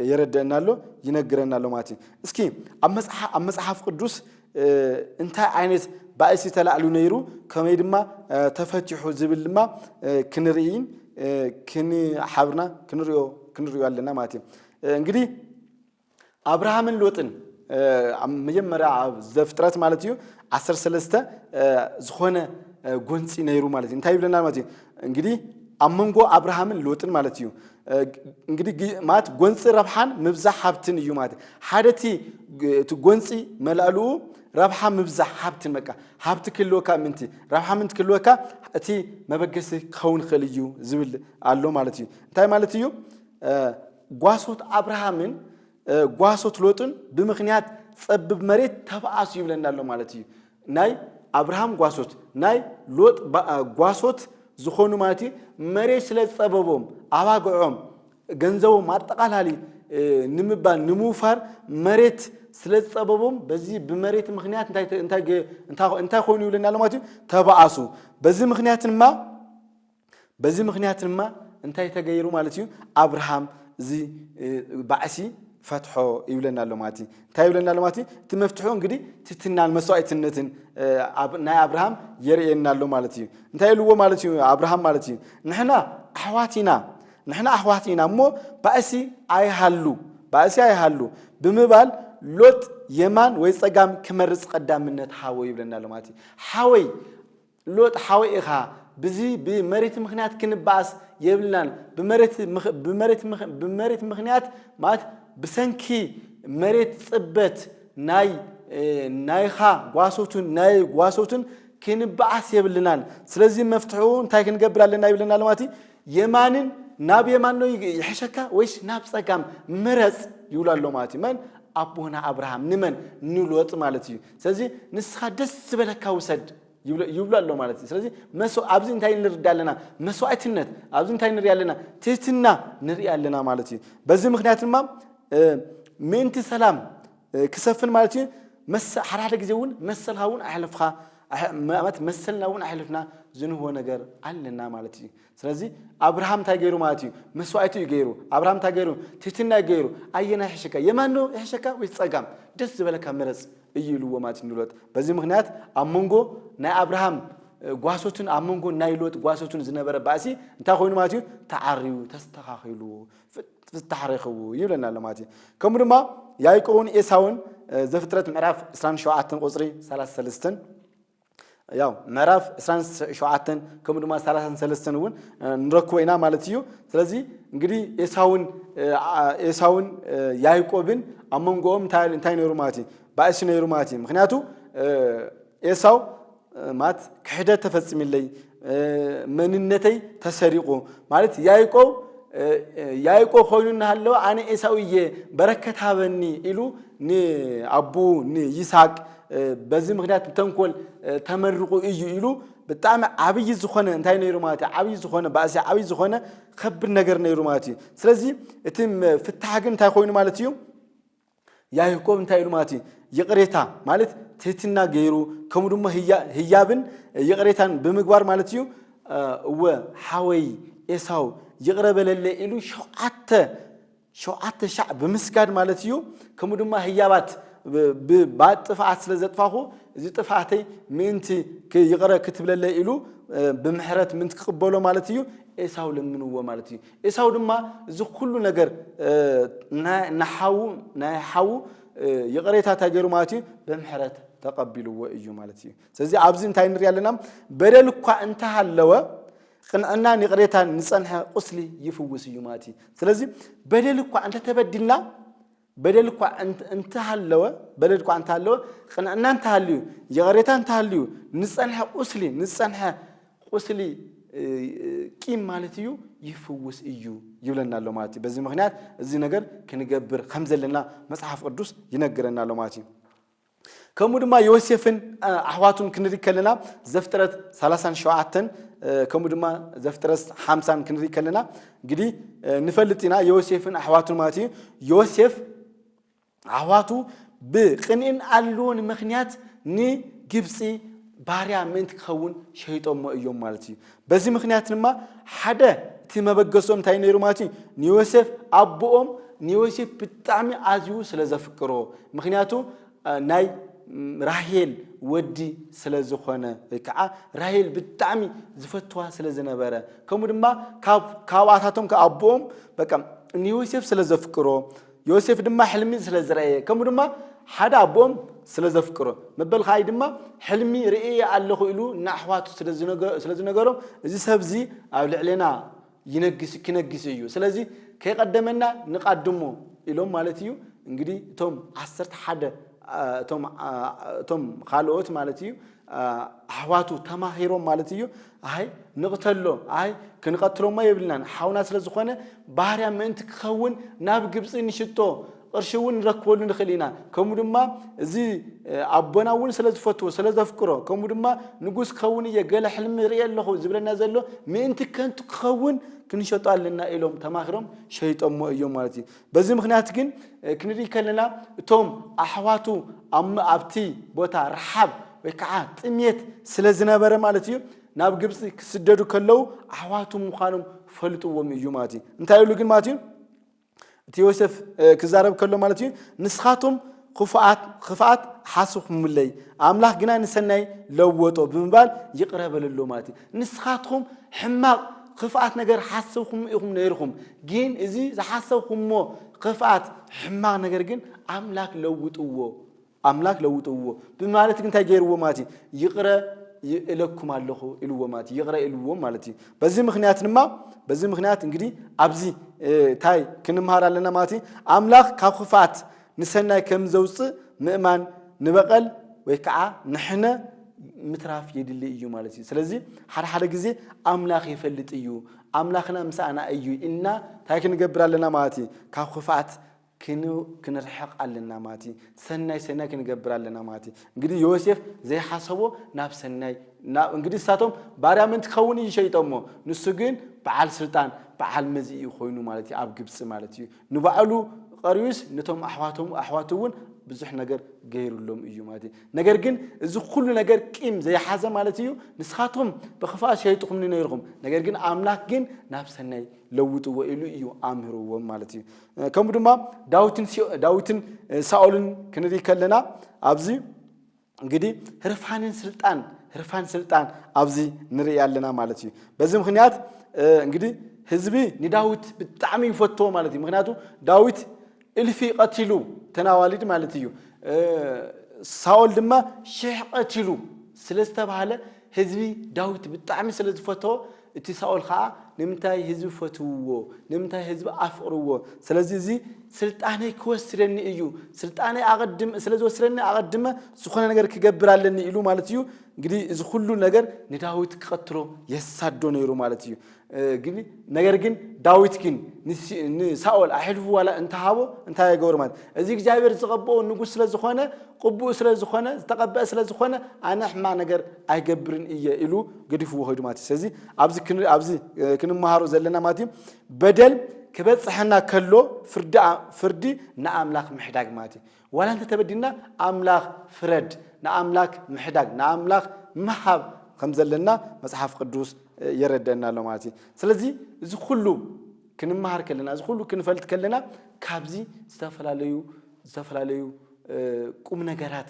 የረደአና ኣሎ ይነግረና ኣሎ ማለት እዩ። እስኪ ኣብ መጽሓፍ ቅዱስ እንታይ ዓይነት ባእሲ ተላዕሉ ነይሩ ከመይ ድማ ተፈቲሑ ዝብል ድማ ክንርእይን ክንሓብርና ክንሪኦ ክንሪኦ ኣለና ማለት እዩ እንግዲህ ኣብርሃምን ሎጥን መጀመርያ ኣብ ዘፍጥረት ማለት እዩ ዓሰርተ ሰለስተ ዝኾነ ጎንፂ ነይሩ ማለት እዩ እንታይ ይብለና ማለት እዩ እንግዲ ኣብ መንጎ ኣብርሃምን ሎጥን ማለት እዩ እንግዲህ ማለት ጎንፂ ረብሓን ምብዛሕ ሃብትን እዩ ማለት ሓደ እቲ እቲ ጎንፂ መላእልኡ ረብሓ ምብዛሕ ሃብትን በቃ ሃብቲ ክህልወካ ምንቲ ረብሓ ምንቲ ክህልወካ እቲ መበገሲ ክኸውን ይኽእል እዩ ዝብል ኣሎ ማለት እዩ እንታይ ማለት እዩ ጓሶት ኣብርሃምን ጓሶት ሎጥን ብምኽንያት ጸብብ መሬት ተባኣሱ ይብለና ኣሎ ማለት እዩ። ናይ ኣብርሃም ጓሶት ናይ ሎጥ ጓሶት ዝኾኑ ማለት እዩ መሬት ስለ ዝጸበቦም ኣባግዖም ገንዘቦም ኣጠቓላሊ ንምባል ንምውፋር መሬት ስለ ዝጸበቦም በዚ ብመሬት ምክንያት እንታይ ኮይኑ ይብለና ኣሎ ማለት እዩ ተባኣሱ በዚ ምክንያት ድማ በዚ ምኽንያት ድማ እንታይ ተገይሩ ማለት እዩ ኣብርሃም እዚ ባዕሲ ፈትሖ ይብለና ኣሎ ማለት እዩ እንታይ ይብለና ኣሎ ማለት እዩ እቲ መፍትሑ እንግዲህ ትትናን መስዋዕትነትን ናይ ኣብርሃም የርእየና ኣሎ ማለት እዩ እንታይ ኢልዎ ማለት እዩ ኣብርሃም ማለት እዩ ንሕና ኣሕዋት ኢና ንሕና ኣሕዋት ኢና እሞ ባእሲ ኣይሃሉ ባእሲ ኣይሃሉ ብምባል ሎጥ የማን ወይ ፀጋም ክመርፅ ቀዳምነት ሃቦ ይብለና ኣሎ ማለት እዩ ሓወይ ሎጥ ሓወይ ኢኻ ብዚ ብመሬት ምኽንያት ክንባኣስ የብልናን ብመሬት ብመሬት ብመሬት ምኽንያት ማለት ብሰንኪ መሬት ጽበት ናይ ናይኻ ጓሶትን ናይ ጓሶትን ክንባኣስ የብልናን ስለዚ መፍትሕኡ እንታይ ክንገብር ኣለና ይብለና ለማቲ የማንን ናብ የማን ነው ይሕሸካ ወይስ ናብ ጸጋም ምረጽ ይብሉ ኣሎ ማለት እዩ መን ኣቦና ኣብርሃም ንመን ንሎጥ ማለት እዩ ስለዚ ንስኻ ደስ ዝበለካ ውሰድ ይብሉ ኣሎ ማለት እዩ ስለዚ ኣብዚ እንታይ ንርዳ ኣለና መስዋእትነት ኣብዚ እንታይ ንሪኢ ኣለና ትህትና ንሪኢ ኣለና ማለት እዩ በዚ ምክንያት ድማ ምእንቲ ሰላም ክሰፍን ማለት እዩ ሓደ ሓደ ግዜ እውን መሰልካ እውን ኣሕልፍካ ማለት መሰልና እውን ኣሕልፍና ዝንህቦ ነገር ኣለና ማለት እዩ ስለዚ ኣብርሃም እንታይ ገይሩ ማለት እዩ? መስዋእቲ እዩ ገይሩ። ኣብርሃም እንታይ ገይሩ? ትህትና እዩ ገይሩ። ኣየና ይሕሸካ? የማን ዶ ይሕሸካ ወይስ ጸጋም? ደስ ዝበለካ ምረጽ እዩ ኢልዎ ማለት እዩ ንሎጥ። በዚ ምክንያት ኣብ መንጎ ናይ ኣብርሃም ጓሶትን ኣብ መንጎ ናይ ሎጥ ጓሶትን ዝነበረ ባእሲ እንታይ ኮይኑ ማለት እዩ? ተዓርዩ ተስተኻኺሉ ፍታሕ ረኽቡ ይብለና ኣሎ ማለት እዩ። ከምኡ ድማ ያዕቆብን ኤሳውን ዘፍጥረት ምዕራፍ 27 ቁጽሪ 33 ያው ምዕራፍ ዕስራን ሸውዓተን ከምኡ ድማ ሰላሳን ሰለስተን እውን ንረክቦ ኢና ማለት እዩ ስለዚ እንግዲህ ኤሳውን ኤሳውን ያዕቆብን ኣብ መንጎኦም እንታይ ነይሩ ማለት እዩ ባእሲ ነይሩ ማለት እዩ ምክንያቱ ኤሳው ማለት ክሕደት ተፈፂምለይ መንነተይ ተሰሪቑ ማለት ያይቆብ ያይቆብ ኮይኑ እናሃለወ ኣነ ኤሳው እየ በረከት ሃበኒ ኢሉ ንኣቡ ንይስሃቅ በዚ ምክንያት ተንኮል ተመርቑ እዩ ኢሉ ብጣዕሚ ዓብይ ዝኾነ እንታይ ነይሩ ማለት እዩ ዓብይ ዝኾነ ባእሲ ዓብይ ዝኾነ ከብድ ነገር ነይሩ ማለት እዩ ስለዚ እቲ ፍታሕ ግን እንታይ ኮይኑ ማለት እዩ ያህኮብ እንታይ ኢሉ ማለት እዩ ይቕሬታ ማለት ትህትና ገይሩ ከምኡ ድማ ህያብን ይቕሬታን ብምግባር ማለት እዩ እወ ሓወይ ኤሳው ይቕረ በለለ ኢሉ ሸውዓተ ሸውዓተ ሻዕ ብምስጋድ ማለት እዩ ከምኡ ድማ ህያባት ብባት ጥፍኣት ስለ ዘጥፋኹ እዚ ጥፍኣተይ ምእንቲ ይቕረ ክትብለለ ኢሉ ብምሕረት ምእንቲ ክቕበሎ ማለት እዩ ኤሳው ለምንዎ ማለት እዩ ኤሳው ድማ እዚ ኩሉ ነገር ንሓዉ ናይ ሓዉ ይቕሬታ እንታይ ገይሩ ማለት እዩ ብምሕረት ተቐቢልዎ እዩ ማለት እዩ ስለዚ ኣብዚ እንታይ ንሪኢ ኣለና በደል እኳ እንተሃለወ ቅንዕናን ይቕሬታን ንፀንሐ ቁስሊ ይፍውስ እዩ ማለት እዩ ስለዚ በደል እኳ እንተተበዲልና በደል እኳ እንተሃለወ በደል እኳ እንተሃለወ ቅንዕና እንተሃልዩ ይቕሬታ እንተሃልዩ ንዝፀንሐ ቁስሊ ንዝፀንሐ ቁስሊ ቂም ማለት እዩ ይፍውስ እዩ ይብለና ኣሎ ማለት እዩ። በዚ ምክንያት እዚ ነገር ክንገብር ከም ዘለና መጽሓፍ ቅዱስ ይነግረና ኣሎ ማለት እዩ። ከምኡ ድማ ዮሴፍን ኣሕዋቱን ክንርኢ ከለና ዘፍጥረት ሰላሳን ሸውዓተን ከምኡ ድማ ዘፍጥረት ሓምሳን ክንርኢ ከለና እንግዲህ ንፈልጥ ኢና ዮሴፍን ኣሕዋቱን ማለት እዩ ዮሴፍ ኣሕዋቱ ብቅንእን ኣልዎን ምክንያት ንግብፂ ባርያ ምእንቲ ክኸውን ሸይጦሞ እዮም ማለት እዩ በዚ ምኽንያት ድማ ሓደ እቲ መበገሶም እንታይ ነይሩ ማለት እዩ ንዮሴፍ ኣቦኦም ንዮሴፍ ብጣዕሚ ኣዝዩ ስለ ዘፍቅሮ ምክንያቱ ናይ ራሄል ወዲ ስለ ዝኾነ ወይ ከዓ ራሄል ብጣዕሚ ዝፈትዋ ስለ ዝነበረ ከምኡ ድማ ካብኣታቶም ኣቦኦም በቃ ንዮሴፍ ስለ ዘፍቅሮ ዮሴፍ ድማ ሕልሚ ስለ ዝረኣየ ከምኡ ድማ ሓደ ኣቦኦም ስለ ዘፍቅሮ መበል ከኣይ ድማ ሕልሚ ርእየ ኣለኹ ኢሉ ንኣሕዋቱ ስለ ዝነገሮም እዚ ሰብዚ ኣብ ልዕሌና ይነግስ ክነግስ እዩ ስለዚ ከይቀደመና ንቃድሞ ኢሎም ማለት እዩ እንግዲህ እቶም ዓሰርተ ሓደ እቶም ካልኦት ማለት እዩ ኣሕዋቱ ተማሂሮም ማለት እዩ ኣይ ንቕተሎ ኣይ ክንቐትሎሞ የብልናን ሓውና ስለ ዝኾነ ባህርያ ምእንቲ ክኸውን ናብ ግብፂ ንሽቶ ቅርሺ እውን ንረክበሉ ንኽእል ኢና ከምኡ ድማ እዚ ኣቦና እውን ስለ ዝፈትዎ ስለ ዘፍቅሮ ከምኡ ድማ ንጉስ ክኸውን እየ ገለ ሕልሚ ይርኢ ኣለኹ ዝብለና ዘሎ ምእንቲ ከንቱ ክኸውን ክንሸጦ ኣለና ኢሎም ተማኺሮም ሸይጦሞ እዮም ማለት እዩ በዚ ምኽንያት ግን ክንርኢ ከለና እቶም ኣሕዋቱ ኣብቲ ቦታ ረሓብ ወይ ከዓ ጥሜት ስለ ዝነበረ ማለት እዩ ናብ ግብፂ ክስደዱ ከለዉ ኣሕዋቱ ምዃኖም ፈልጥዎም እዩ ማለት እዩ እንታይ ኢሉ ግን ማለት እዩ እቲ ዮሴፍ ክዛረብ ከሎ ማለት እዩ ንስኻቶም ኽፉኣት ኽፍኣት ሓስኹምለይ ኣምላኽ ግና ንሰናይ ለወጦ ብምባል ይቕረ በለሎም ማለት እዩ። ንስኻትኹም ሕማቕ ኽፍኣት ነገር ሓስብኩም ኢኹም ነይርኹም፣ ግን እዚ ዝሓሰብኩሞ ኽፍኣት ሕማቕ ነገር ግን ኣምላክ ለውጥዎ ኣምላክ ለውጥዎ ብማለት ግን እንታይ ገይርዎ ማለት እዩ ይቕረ ይእለኩም ኣለኹ ኢልዎ ማለት እዩ ይቕረ ኢልዎ ማለት እዩ በዚ ምክንያት ድማ በዚ ምክንያት እንግዲህ ኣብዚ እንታይ ክንምሃር ኣለና ማለት እዩ ኣምላኽ ካብ ክፍኣት ንሰናይ ከም ዘውጽእ ምእማን ንበቐል ወይ ከዓ ንሕነ ምትራፍ የድሊ እዩ ማለት እዩ። ስለዚ ሓደ ሓደ ግዜ ኣምላኽ ይፈልጥ እዩ ኣምላኽና ምሳኣና እዩ ኢልና እንታይ ክንገብር ኣለና ማለት እዩ ካብ ክፍኣት ክንርሕቕ ኣለና ማለት እዩ። ሰናይ ሰናይ ክንገብር ኣለና ማለት እዩ። እንግዲህ ዮሴፍ ዘይሓሰቦ ናብ ሰናይ እንግዲህ እሳቶም ባርያ ምእንቲ ክኸውን እዩ ሸይጦሞ ንሱ ግን በዓል ስልጣን በዓል መዚ እዩ ኮይኑ ማለት እዩ ኣብ ግብፂ ማለት እዩ ንባዕሉ ቐርዩስ ነቶም ኣሕዋቶም ኣሕዋቱ እውን ብዙሕ ነገር ገይሩሎም እዩ ማለት እዩ። ነገር ግን እዚ ኩሉ ነገር ቂም ዘይሓዘ ማለት እዩ። ንስኻትኩም ብክፋእ ሸይጥኹምኒ ነይርኹም፣ ነገር ግን ኣምላክ ግን ናብ ሰናይ ለውጥዎ ኢሉ እዩ ኣምህርዎም ማለት እዩ። ከምኡ ድማ ዳዊትን ዳዊትን ሳኦልን ክንርኢ ከለና ኣብዚ እንግዲ ህርፋንን ስልጣን ህርፋን ስልጣን ኣብዚ ንርኢ ኣለና ማለት እዩ በዚ ምክንያት እንግዲ ህዝቢ ንዳዊት ብጣዕሚ ይፈትዎ ማለት እዩ ምክንያቱ ዳዊት እልፊ ቀቲሉ ተናዋሊድ ማለት እዩ ሳኦል ድማ ሽሕ ቀቲሉ ስለ ዝተባሃለ ህዝቢ ዳዊት ብጣዕሚ ስለ ዝፈተዎ እቲ ሳኦል ኸኣ፣ ንምንታይ ህዝቢ ፈትውዎ? ንምንታይ ህዝቢ ኣፍቕርዎ? ስለዚ እዚ ስልጣነይ ክወስደኒ እዩ፣ ስልጣነይ ኣቐድም ስለ ዝወስደኒ ኣቐድመ ዝኾነ ነገር ክገብር ኣለኒ ኢሉ ማለት እዩ። እንግዲህ እዚ ኩሉ ነገር ንዳዊት ክቐትሎ የሳዶ ነይሩ ማለት እዩ። ግን ነገር ግን ዳዊት ግን ንሳኦል ኣሕልፉ ዋላ እንተሃቦ እንታይ ኣይገብሮ ማለት እዚ እግዚኣብሔር ዝቐብኦ ንጉስ ስለ ዝኾነ ቅቡእ ስለ ዝኾነ ዝተቐበአ ስለ ዝኾነ ኣነ ሕማቕ ነገር ኣይገብርን እየ ኢሉ ገዲፍዎ ከይዱ ማለት እዩ ስለዚ ኣብዚ ክን- ኣብዚ እ፣ ክንመሃሮ ዘለና ማለት እዩ በደል ክበፅሐና ከሎ ፍርዲ ኣ- ፍርዲ ንኣምላክ ምሕዳግ ማለት እዩ ዋላ እንተ ተበዲልና ኣምላክ ፍረድ ንኣምላክ ምሕዳግ ንኣምላክ ምሃብ ከም ዘለና መፅሓፍ ቅዱስ እ፣ የረደአና ኣሎ ማለት እዩ ስለዚ እዚ ኩሉ ክንመሃር ከለና እዚ ኩሉ ክንፈልጥ ከለና ካብዚ ዝተፈላለዩ ዝተፈላለዩ እ፣ ቁም ነገራት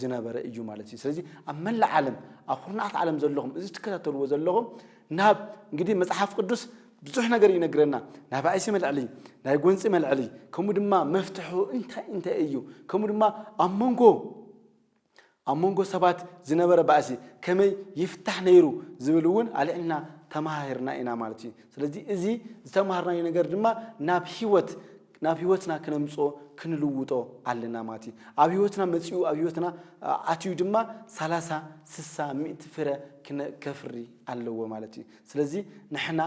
ዝነበረ እዩ ማለት እዩ። ስለዚ ኣብ መላእ ዓለም ኣብ ኩርናዓት ዓለም ዘለኹም እዚ ትከታተልዎ ዘለኹም ናብ እንግዲህ መጽሓፍ ቅዱስ ብዙሕ ነገር ይነግረና ናይ ባእሲ መልዕሊ ናይ ጎንፂ መልዕሊ ከምኡ ድማ መፍትሑ እንታይ እንታይ እዩ ከምኡ ድማ ኣብ መንጎ ኣብ መንጎ ሰባት ዝነበረ ባእሲ ከመይ ይፍታሕ ነይሩ ዝብል እውን ኣልዕልና ተማሃሂርና ኢና ማለት እዩ ስለዚ እዚ ዝተማሃርናዮ ነገር ድማ ናብ ሂወት ናብ ህይወትና ክነምጽኦ ክንልውጦ ኣለና ማለት እዩ። ኣብ ህይወትና መጺኡ ኣብ ህይወትና ኣትዩ ድማ ሰላሳ ስሳ ሚእቲ ፍረ ከፍሪ ኣለዎ ማለት እዩ። ስለዚ ንሕና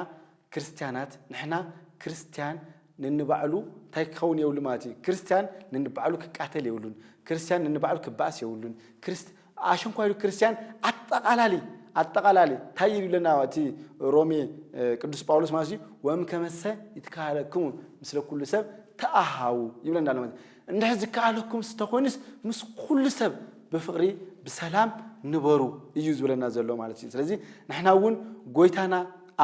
ክርስትያናት ንሕና ክርስትያን ንንባዕሉ እንታይ ክኸውን የብሉ ማለት እዩ። ክርስትያን ንንባዕሉ ክቃተል የብሉን። ክርስትያን ንንባዕሉ ክበኣስ የብሉን። ክርስት ኣሽንኳይ ሉ ክርስትያን ኣጠቓላሊ ኣጠቓላሊ እንታይ እዩ ይብለና እቲ ሮሜ ቅዱስ ጳውሎስ ማለት እዩ ወም ከመሰ ይትካለክሙ ምስለ ኩሉ ሰብ ተኣሃዉ ይብለና ኣሎ ማለት እንድሕር ዝከኣለኩም ስተኮይኑስ ምስ ኩሉ ሰብ ብፍቕሪ ብሰላም ንበሩ እዩ ዝብለና ዘሎ ማለት እዩ ስለዚ ንሕና እውን ጎይታና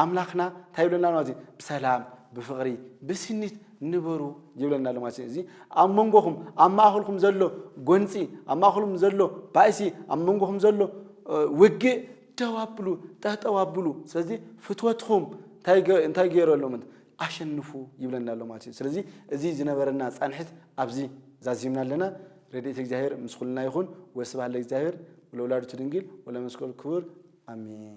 ኣምላኽና እንታይ ይብለና ማለት እዩ ብሰላም ብፍቕሪ ብስኒት ንበሩ ይብለና ኣሎ ማለት እዩ። እዚ ኣብ መንጎኹም ኣብ ማእኸልኩም ዘሎ ጎንፂ ኣብ ማእኸልኩም ዘሎ ባእሲ ኣብ መንጎኹም ዘሎ ውግእ ደው ኣብሉ ጠጠው ኣብሉ። ስለዚ ፍትወትኹም እንታይ ገይረሎም ኣሸንፉ ይብለና ኣሎ ማለት እዩ። ስለዚ እዚ ዝነበረና ፃንሒት ኣብዚ ዛዚምና ኣለና። ረድኤት እግዚኣብሔር ምስ ኩልና ይኹን። ወስብሐት ለእግዚኣብሔር ወለወላዲቱ ድንግል ወለመስቀሉ ክቡር አሜን።